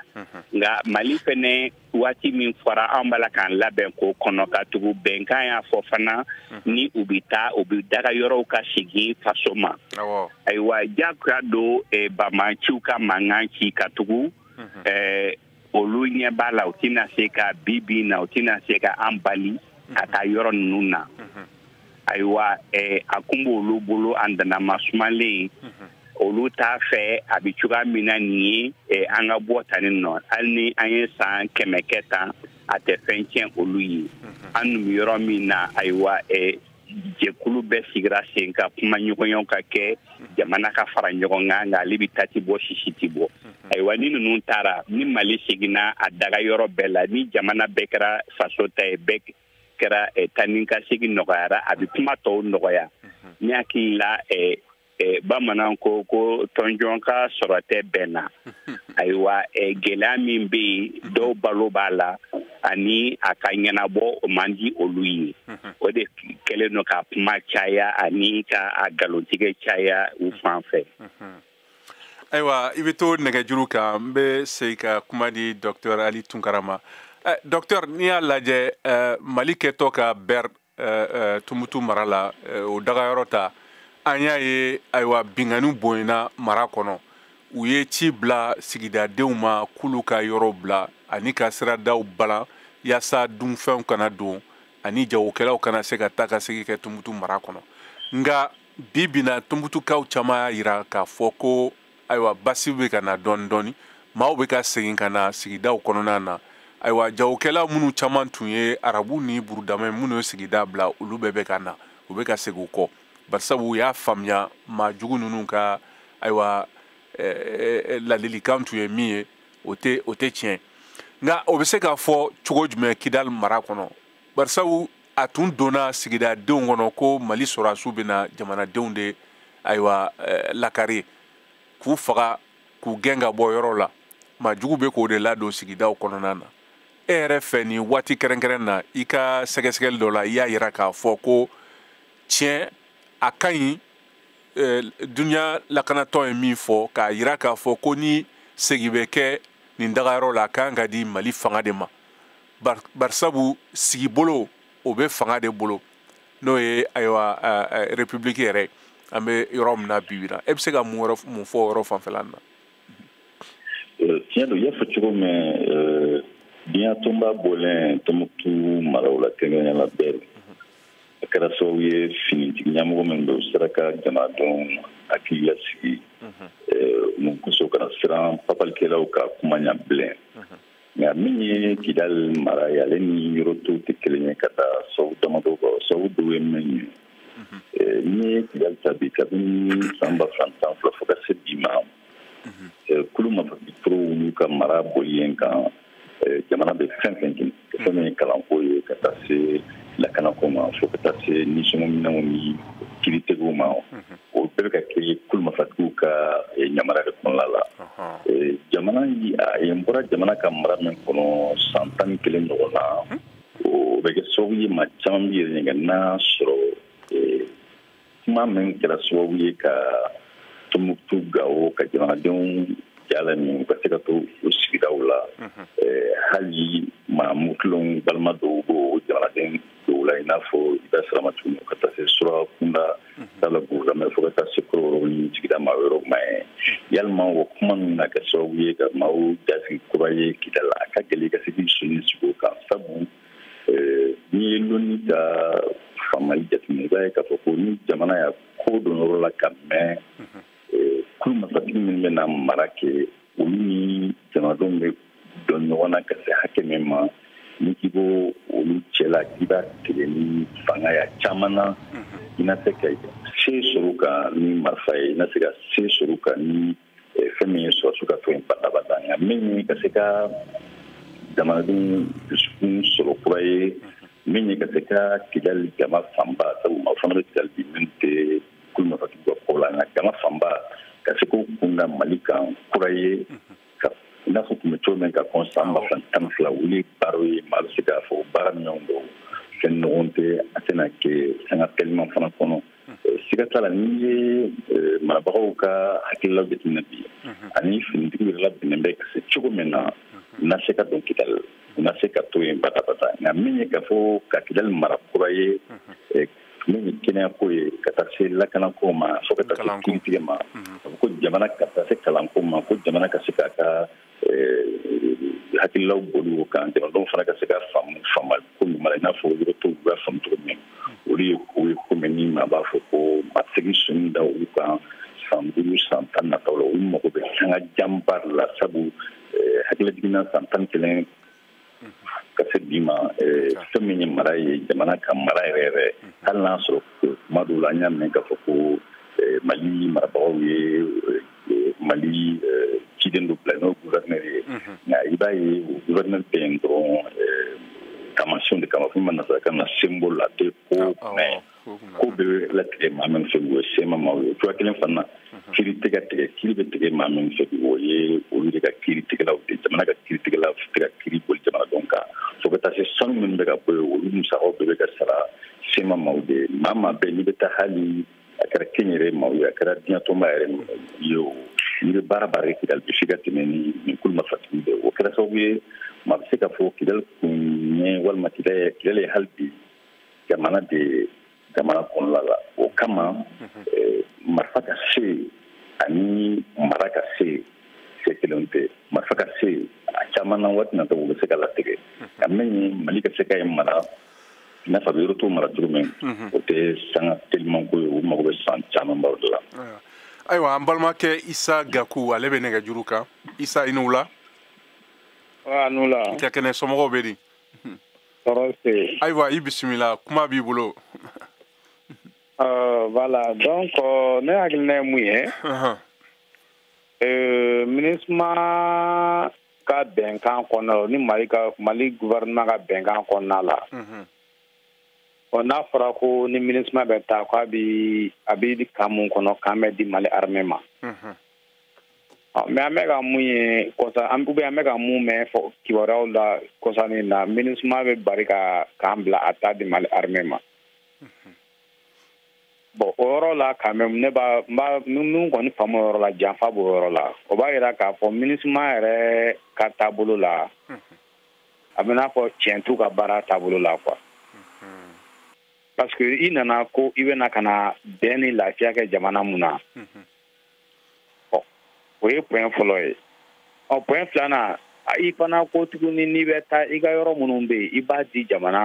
Speaker 10: nka mali fɛnɛ waati min fɔra an b'a la k'an labɛn k'o kɔnɔ ka tugu bɛnkan y'a fɔ fana ni u bɛ taa u bɛ dagayɔrɔw ka segin faso ma ayiwa jagoya don e, banbaanciw ka mankan ci ka tugu e, olu ɲɛ b'a la u tɛna se ka bi bi in na u tɛna se ka an bali ka taa yɔrɔ ninnu na ayiwa eh, a kun b'olu bolo a danama sumalen mhm. olu t'a fɛ a bɛ cogoya min na nin ye eh, an ka bɔ tani nɔ hali ni an ye san kɛmɛ kɛ tan a tɛ fɛn tiɲɛ olu ye mhm. an dun bɛ yɔrɔ min na ayiwa eh, jɛkulu bɛɛ sigira sen kan kumaɲɔgɔnyaw ka kɛ mhm. jamana ka fara ɲɔgɔn kan nka ale bɛ ta tɛ bɔ sisi tɛ bɔ ayiwa ni ninnu taara ni mali seginna a dagayɔrɔ bɛɛ la ni jamana bɛɛ kɛra faso ta ye bɛɛ kɛra eh, taa ni ka segin nɔgɔyara a bɛ kuma tɔw nɔgɔya ne hakili la eh, eh, bamanan ko ko tɔnjɔn ka sɔrɔ tɛ bɛn na ayiwa gɛlɛya min bɛ yen dɔw balo b'a la ani a ka ɲɛnabɔ o man di olu ye o de kɛlen don ka kuma caya ani ka a nkalontigɛ caya u fan fɛ
Speaker 4: ayiwa i bɛ to nɛgɛjuru kan n bɛ segin ka kuma di dɔktɛr ali tunkara ma eh, dɔktɛr n'i y'a lajɛ eh, mali kɛtɔ ka bɛr eh, tumutu mara la o dagayɔrɔ ta an y'a ye ayiwa binkanniw bonyana mara kɔnɔ u ye ci bila sigidadenw ma k'olu ka yɔrɔ bila ani ka siradaw balan yaasa dunfɛnw kana don ani jagokɛlaw kana se ka taa ka segin kɛ tumutu mara kɔnɔ nka bi bi in na tumutukaw caman y'a yira k'a fɔ ko ayiwa basi bɛ ka na dɔɔni dɔɔni maaw bɛ ka segin ka na sigidaw kɔnɔna na ayiwa jagokɛla minnu caman tun ye arabu ni burudama ye minnu ye sigida bila olu bɛɛ bɛ ka na u bɛ ka segin u kɔ barisabu u y'a faamuya maa jugu ninnu ka ayiwa eh, ladilikan tun ye min ye o tɛ o tɛ tiɲɛ nka o bɛ se k'a fɔ cogo jumɛn kidali mara kɔnɔ barisabu a tun donna sigidadenw kɔnɔ ko mali sɔrɔdasiw bɛna jamanadenw de ayiwa eh, lakari k'u faga k'u gɛn ka bɔ yɔrɔ la maa jugu bɛ k'o de ladon sigidaw kɔnɔna na e yɛrɛ fɛ nin waati kɛrɛnkɛrɛn na i ka sɛgɛsɛgɛli dɔ la i y'a yira k'a fɔ ko tiɲɛ a ka ɲi eh, duniya lakanatɔn ye min fɔ k'a yira k'a fɔ ko ni segi bɛ kɛ nin dagayɔrɔ la a ka kan ka di mali fanga de ma barisabu sigibolo o bɛ fanga de bolo n'o ye ayiwa repibuliki yɛrɛ an bɛ yɔrɔ min na bi bi la e bɛ se ka mun mun fɔ yɔrɔ fanfɛla na tiɲɛ
Speaker 5: don i y'a fɔ cogo min diɲɛ tɔnba bɔlen tumutu maraw la kɛrɛnkɛrɛnnenya la bɛr a kɛra sababu ye finitigi ɲɛmɔgɔ min don sera ka jamanadenw hakili lasigi mun kosɔn u kana siran papalikɛlaw ka kuma ɲɛ bilen nka min ye kidali mara ye ale ni yɔrɔ tɔw tɛ kelen ye k'a da sabu damadɔ kan sabu dɔw ye min ye mhm. eh, n'i ye kidali ta bi kabini san ba fila tan ni fila fo ka se bi ma mhm. eh, kulu marifatigiw olu ka mara boli yen kan eh, jamana bɛ fɛn o fɛn kɛ fɛn min ye mhm. kalanko ye ka taa se lakanako ma fo ka taa se nisɔngɔminɛw ni kiritigɛw ma o bɛɛ bɛ ka kɛ kulu marifatigiw ka eh, ɲamara de kɔnɔna la eh, jamana yen bɔra jamana ka mara min kɔnɔ san tan ni kelen ɲɔgɔn na hmm? o bɛ kɛ sababu ye maa caman b'i yɛrɛ ɲininka n'a sɔrɔ eh, kuma min kɛra sababu ye ka tumutu gawo ka jamanadenw ja laminɛ u ka se ka to u sigidaw la hmm. hali maa murutilenw balima dɔw b'o jamanaden o la i n'a fɔ i bɛ sirama tuguni ka taa se surakakunda t'a la burudamɛ fo ka taa se kɔrɔbɔrɔ ni sigida maa yɔrɔ ma ye yalima o kuma ninnu na kɛ sababu ye ka maaw ja sigi kura ye kidali a ka gɛlɛn i ka se k'i sonni sigi o kan sabu n'i ye lonni ka faamali jateminɛ i b'a ye k'a fɔ ko ni jamana y'a kɔ don yɔrɔ la ka mɛn kulu marifatigi minnu bɛna mara kɛ olu ni jamanadenw bɛ dɔn ɲɔgɔn na ka se hakɛ min ma n'i k'i b'o olu cɛla k'i b'a tigɛ ni fanga ye a caman na i na se ka se sɔrɔ u kan ni marifa ye i na se ka se sɔrɔ u kan ni eh, fɛn min ye sɔrɔdasiw ka to yen badabada nka min ye ka se ka jamanadenw dusukun sɔrɔ kura ye min ye ka se ka kidali jama fanba sabu maa fana bɛ kidali bi min tɛ kulu marifatigiw ka ko la nka jama fanba ka se k'u kun da mali kan kura ye i n'a fɔ tun bɛ cogo min ka kɔn san ba fila tan fila olu ye baaraw ye maa bɛ se k'a fɔ baara minnu don fɛn nɔgɔn tɛ a tɛna kɛ sanga teliman fana kɔnɔ siga t'a la n'i ye marabagaw ka hakililaw jateminɛ bi ani finitigiw yɛrɛ labɛnnen bɛ ka se cogo min na na se ka don kidali na se ka to yen badabada nka min ye k'a fɔ ka kidali mara kura ye min ye kɛnɛyako ye ka taa se lakanako ma fo ka taa se kiritigɛ ma mhm. a ko jamana ka taa se kalanko ma ko jamana ka se k'a ka eh, hakililaw boli o kan jamanadenw fana ka se k'a faamu faamuko ɲuman la i n'a fɔ yɔrɔ tɔw b'a faamu cogo min mhm. olu ye ko ye ko min ni maa b'a fɔ ko ma segin sɔnni da olu kan san duuru san tan nataw la olu mago bɛ sanga janba la sabu eh, hakilijigin na san tan kelen ka se bi ma fɛn min ye mara ye jamana ka mara yɛrɛ yɛrɛ hali n'a sɔrɔ kuma dɔw la an y'a mɛn k'a fɔ ko mali marabagaw ye mali ciden dɔ bila n'o gouverneur ye nka i b'a ye o gouverneur bɛ yen dɔrɔn taamasiyɛnw de kama fɔ min ma nasarakan na symbole a tɛ ko mɛn ko bɛ latigɛ maa min fɛ o ye sema maaw ye cogoya kelen fana kiri tɛ ka tigɛ kiri bɛ tigɛ maa min fɛ o ye olu de ka kiri tigɛlaw de jamana ka kiri tigɛlaw tɛ ka kiri boli jamanadenw kan fo ka taa se sanu minnu bɛ ka bɔ yen olu musakaw bɛɛ bɛ ka sara sema maaw de ye maa maa bɛɛ n'i bɛ taa hali a kɛra kɛnyɛrɛ maaw ye a kɛra diɲɛtɔnba yɛrɛ ye o n'i bɛ baara baara kɛ kidali bɛ se ka tɛmɛ ni nin kulu marifatigi bɛɛ o kɛra sababu ye maa bɛ se k'a fɔ kidali tun ye walima kidali ye hali bi jamana de ye jamana kɔnɔla la o kama eh, marifa ka se yen ani mara ka se yen se kelen tɛ marifa ka se yen a caman na waati nataw bɛ se k'a latigɛ nka min ye mali ka se ka yen mara i n'a fɔ a bɛ yɔrɔ tɔw mara cogo min o tɛ sanga telimanko ye o mago bɛ san camanbaw de la ayiwa
Speaker 4: an balimakɛ isa gaku ale bɛ nɛgɛjuru kan isa i ni wula
Speaker 11: i ka kɛnɛ somɔgɔw bɛ di
Speaker 4: ayiwa i bisimila kuma b'i bolo
Speaker 11: Euh, voilà donc euh, ne hakilina ye mun ye euh, minusma ka bɛnkan kɔnɔna la ni mali ka mali gouvernement ka bɛnkan kɔnɔna la ɔ n'a fɔra ko ni minusma bɛ taa ko a bi a bi camp min kɔnɔ camp bɛ di mali armée ma Ah, mais an bɛ ka mun ye kɔsa an bɛ an bɛ ka mun mɛn fɔ kibaruyaw la kɔsanin na minusma bɛ bari ka camp bila a t'a di mali armée ma mhm. bon o yɔrɔ la quand même ne b'a n b'a min kɔni faamu o yɔrɔ la janfa b'o yɔrɔ la o b'a jira k'a fɔ minusma yɛrɛ ka taabolo la mhm. a bɛ n'a fɔ tiɲɛ t'u ka baara taabolo la quoi mhm. parce que i nana ko i bɛna ka na bɛn ni lafiya kɛ jamana mun na ɔ o ye point fɔlɔ ye ɔ point filanan i fana ko tuguni n'i bɛ taa i ka yɔrɔ minnu bɛ yen i b'a di jamana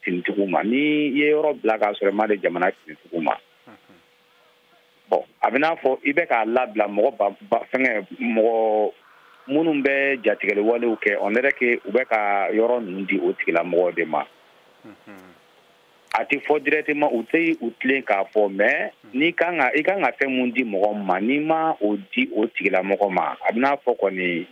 Speaker 11: finitigiw ma ni i ye yɔrɔ bila k'a sɔrɔ i m'a di jamana finitigiw ma bon a bɛ n'a fɔ i bɛ k'a labila mɔgɔ ba ba fɛngɛ mɔgɔ minnu bɛ jatigɛli walew kɛ on dirait que u bɛ ka yɔrɔ ninnu di o tigilamɔgɔw de ma a tɛ fɔ directement u tɛ u tilen k'a fɔ mais n'i kan ka i kan ka fɛn mun di mɔgɔ ma n'i ma o di o tigilamɔgɔ ma a bɛ n'a fɔ kɔni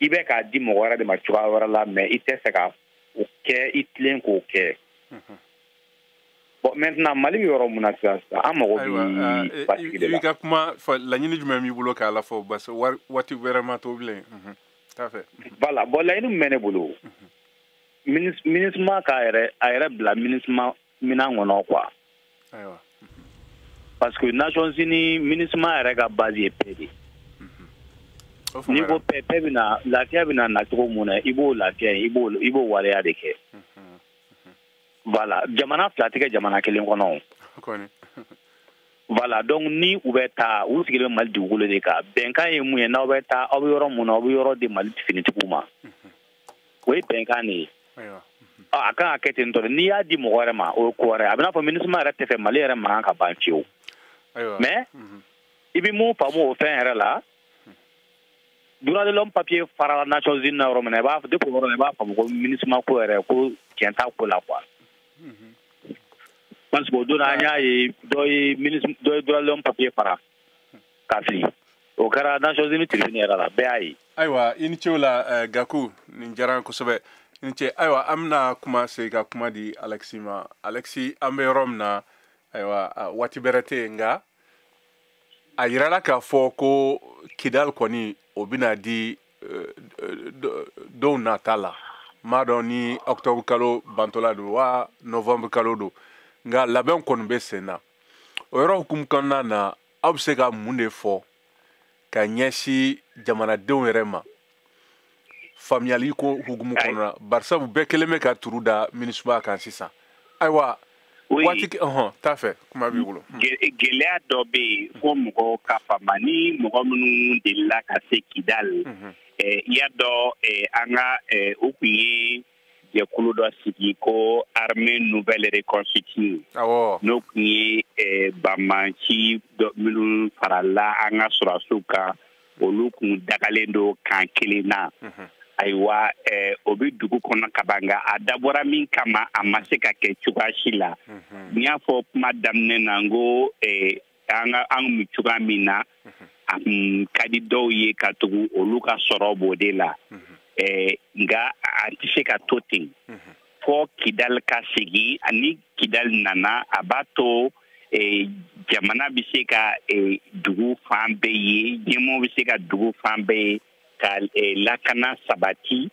Speaker 11: i bɛ k'a di mɔgɔ wɛrɛ de ma cogoya wɛrɛ la mais i tɛ fɛ ka o kɛ i tilen k'o kɛ. Bon maintenant Mali bɛ yɔrɔ mun na sisan sisan an mago bɛ basigi de la. I ka kuma fɔ laɲini
Speaker 4: jumɛn b'i bolo k'a lafɔ parce que waati wɛrɛ ma to bilen. T'a fɛ. Voilà bon laɲini min bɛ
Speaker 11: ne bolo. minusma k'a yɛrɛ a yɛrɛ bila minusma minan kɔnɔ quoi parce que nations unies minusma yɛrɛ ka base ye paix de n'i ko paix paix bɛna lafiya bɛna na cogo mun na i b'o lafiya i b'o i b'o waleya de kɛ voilà jamana fila tɛ kɛ jamana kelen kɔnɔ voilà donc ni u bɛ taa u sigilen bɛ mali dugukolo de kan bɛnkan ye mun ye n'aw bɛ taa aw bɛ yɔrɔ mun na aw bɛ yɔrɔ di mali finitigiw ma o ye bɛnkan de ye a kan ka kɛ ten dɔrɔn n'i y'a di mɔgɔ wɛrɛ ma o ye ko wɛrɛ a bɛ n'a fɔ minusma yɛrɛ tɛ fɛ mali yɛrɛ mankan ka ban fiyewu mais mhm. i bɛ mun faamu o fɛn yɛrɛ la droit de l'homme papier farala nations unies na yɔrɔ min na i b'a depuis o yɔrɔ la i b'a faamu ko minusma ko yɛrɛ ko tiɲɛ t'a ko la quoi mhm. parce que o don an y'a ye dɔ ye dɔ ye droit de l'homme papier fara ka fili o kɛra nations unies tribune yɛrɛ la bɛɛ y'a ye ayiwa i ni ce o
Speaker 4: la eh, gaku nin diyara n kosɛbɛ i ni ce ayiwa an bɛna kuma segin ka kuma di alexis ma alexis an bɛ yɔrɔ min na ayiwa ah, waati bɛrɛ tɛ yen nka a yirala k'a fɔ ko kidal kɔni o bɛna di eh, do- donw nata la m'a dɔn ni octobre kalo bantɔla don wa novembre kalo don nka labɛn kɔni bɛ sen na o yɔrɔ hukumu kɔnɔna na aw bɛ se ka mun de fɔ ka ɲɛsin jamanadenw yɛrɛ ma faamuyali ko hukumu kɔnɔna barisabu bɛɛ kelen bɛ ka turu da MINUSMA kan sisan ayiwa waati ɔhɔn t'a fɛ kuma b'i bolo hmm. gɛlɛya
Speaker 10: dɔ bɛ yen hmm. fo mɔgɔw ka faamu ni mɔgɔ minnu delila ka se kidali hmm. eh, y'a dɔn eh, an ka eh, u tun ye jɛkulu dɔ sigi ko armée nouvelle reconstituée n'o tun ye eh, banbaanci minnu farala an ka sɔrɔdasiw kan olu kun dagalen don kan kelen na mhm. ayiwa eh, o bɛ dugu kɔnɔ ka ban nka a dabɔra min kama a ma se ka kɛ cogoya si la mhm. n y'a fɔ kuma daminɛ na n ko eh, an ka an kun cogoya min na a kun ka di dɔw ye ka tugu olu ka sɔrɔ b'o de la nka a tɛ se ka to ten fɔ kidali ka segin ani kidali nana a b'a to e, jamana bɛ se ka e, dugu fan bɛɛ ye ɲɛmɔgɔ bɛ se ka dugu fan bɛɛ ye ka e, lakana sabati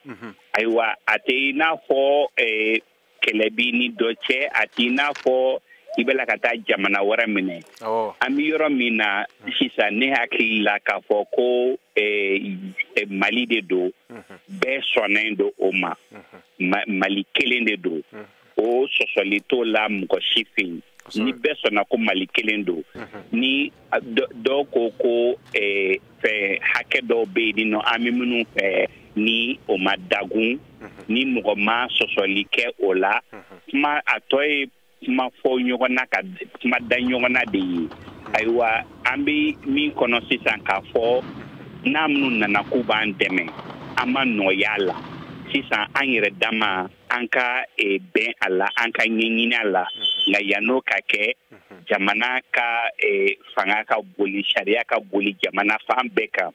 Speaker 10: ayiwa a tɛ i n'a fɔ kɛlɛ b'i ni dɔ cɛ a t'i n'a fɔ i b'a la ka taa jamana wɛrɛ minɛ an bɛ yɔrɔ min na hmm. sisan ne hakili la k'a fɔ ko eh, eh, mali de don hmm. bɛɛ sɔnnen don o ma hmm. mali kelen de don o sɔsɔli t'o la mɔgɔ si fɛ yen ni bɛɛ sɔnna ko mali kelen don ni dɔw ko ko eh, fɛn hakɛ dɔw bɛ yen nɔ an bɛ minnu fɛ ni o ma dagun mhm. ni mɔgɔ ma sɔsɔli kɛ o la mhm. kuma a tɔ ye kuma fɔ ɲɔgɔn na ka kuma da ɲɔgɔn na de ye mhm. ayiwa an bɛ min kɔnɔ sisan k'a fɔ n'a minnu nana k'u b'an dɛmɛ an ma nɔgɔya la sisan an yɛrɛ dama an ka e, bɛn a la an ka ɲɛɲini a la nka yann'o ka kɛ jamana ka e, fanga ka boli sariya ka boli jamana fan bɛɛ kan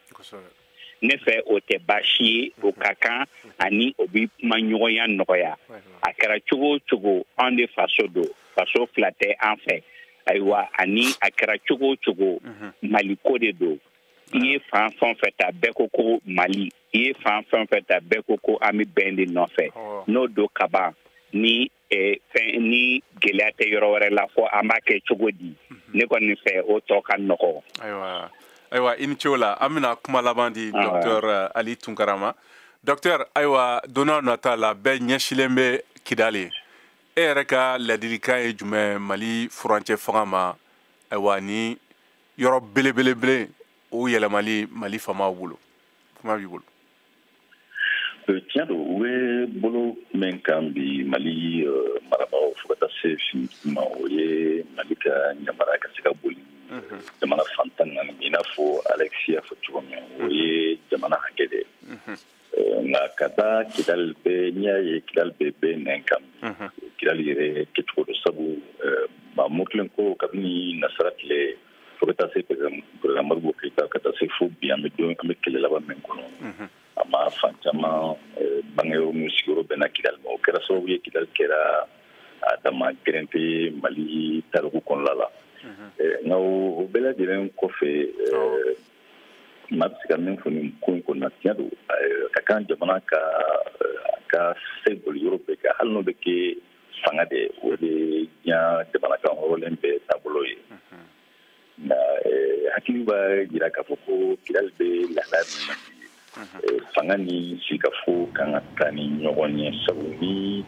Speaker 10: ne fɛ o tɛ baasi ye o ka kan ani o bɛ kumaɲɔgɔnya nɔgɔya a kɛra cogo o cogo an de faso don faso fila tɛ an fɛ ayiwa ani a kɛra cogo o cogo maliko de don i ye fan fɛn o fɛn ta bɛɛ ko ko mali i ye fan fɛn o fɛn ta bɛɛ ko ko an bɛ bɛn de nɔfɛ n'o don kaban ni eh, fɛn ni gɛlɛya tɛ yɔrɔ wɛrɛ la fɔ an b'a kɛ cogo di mhm. ne kɔni fɛ o tɔ ka nɔgɔ. ayiwa ayiwa
Speaker 4: i ni ce o la an bɛna kuma laban di docteur eh, ali tunkara ma docteur ayiwa don n'a nata la bɛɛ ɲɛsilen bɛ kidali e yɛrɛ ka ladilikan ye jumɛn mali furancɛ fanga ma ayiwa ni yɔrɔ belebelebele o yɛlɛmali mali faamaw bolo kuma b'i
Speaker 5: bolo euh, tiɲɛ don u bɛ bolo min kan bi mali euh, marabagaw fo ka taa se fini ma o ye mali ka ɲamara ka se ka boli mhm. jamana fan tan naani i n'a fɔ alexi y'a fɔ cogo min o mhm. ye jamana hakɛ de mhm. euh, nka ka taa kidali bɛ n'i y'a ye kidali bɛ bɛɛ nɛn kan kidali yɛrɛ kɛcogo don sabu maa murutilen ko kabini nasara tile fo ka taa se perezidan modibo keyita ka taa se fo bi an bɛ don an bɛ kɛlɛ laban min kɔnɔ a maa fan caman eh, bangeyɔrɔ n'u sigiyɔrɔ bɛnna kidali ma o kɛra sababu ye kidali kɛra a dama gɛrɛnte mali tariku kɔnɔla la eh, nka o bɛɛ lajɛlen kɔfɛ eh, maa bɛ se ka min fɔ nin ko in kɔnɔna tiɲɛ don ka kan jamana k'a ka se boli yɔrɔ bɛɛ kan hali n'o bɛ kɛ fanga de o de diɲɛ jamana kanhɔrɔnlen bɛɛ taabolo ye nka hakili b'a jira k'a fɔ ko kidali bɛ lahala min na fanga ni sigikafɔ kan ka taa ni ɲɔgɔn ye sabu ni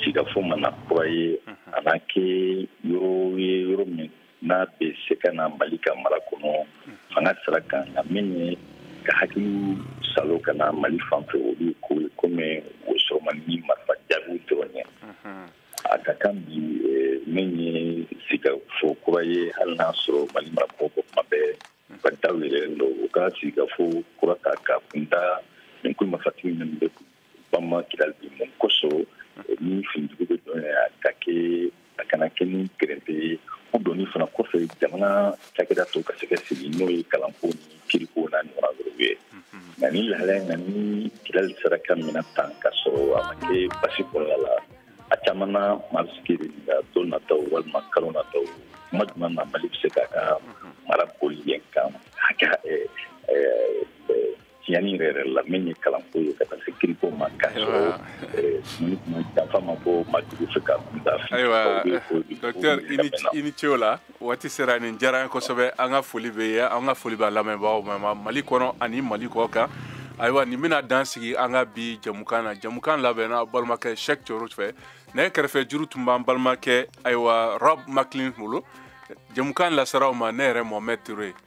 Speaker 5: sigikafɔ ma na kura ye a b'a kɛ yɔrɔ ye yɔrɔ min n'a bɛ se ka na mali ka mara kɔnɔ fanga sira kan nka min ye ka hakiliw saalo ka na mali fan fɛ olu ko ye komi o sɔrɔ man di ni marifa jaabiw dɔrɔn ye a ka kan bi eh, min ye sigikafɔ kura ye hali n'a sɔrɔ mali marabagaw ko kuma bɛɛ k'a daw yɛlɛlen don u ka sigikafɔ kura ta ka kunda nin kulu marifatigi minnu bɛ kun bama kidali bi mun kosɔn ni finitigiw bɛ don a ka kɛ a kana kɛ ni gɛrɛnte ye o donni fana kɔfɛ jamana cakɛda tɔw ka se ka sigi n'o ye kalanko ni kiiriko n'a ɲɔgɔnna wɛrɛw ye nka ni lahala in na ni kidali sera ka minɛ tan ka sɔrɔ a ma kɛ basi kɔnɔna la a caman na maa bɛ se k'i ɲininka don nataw walima kalo nataw kuma jumɛn na mali bɛ se k'a ka mara boli yen kan hakɛ tiɲɛni yɛrɛ yɛrɛ la min ye kalanko ye ka taa se kiiriko ma ka sɔrɔ janfa ma bɔ maa jugu fɛ ka kunda ayiwa
Speaker 4: docteur i ni ce o la waati sera nin diyara an ye kosɛbɛ an ka foli b'i ye an ka foli b'a lamɛnbaaw ma mali kɔnɔ ani mali kɔ kan ayiwa nin bɛna dan sigi an ka bi jamukan na jamukan labɛnna balimakɛ shek coro fɛ nɛgɛ kɛrɛfɛ juru tun b'an balimakɛ ayiwa rob maclin bolo jamukan laser'aw ma ne yɛrɛ mohamɛd ture ye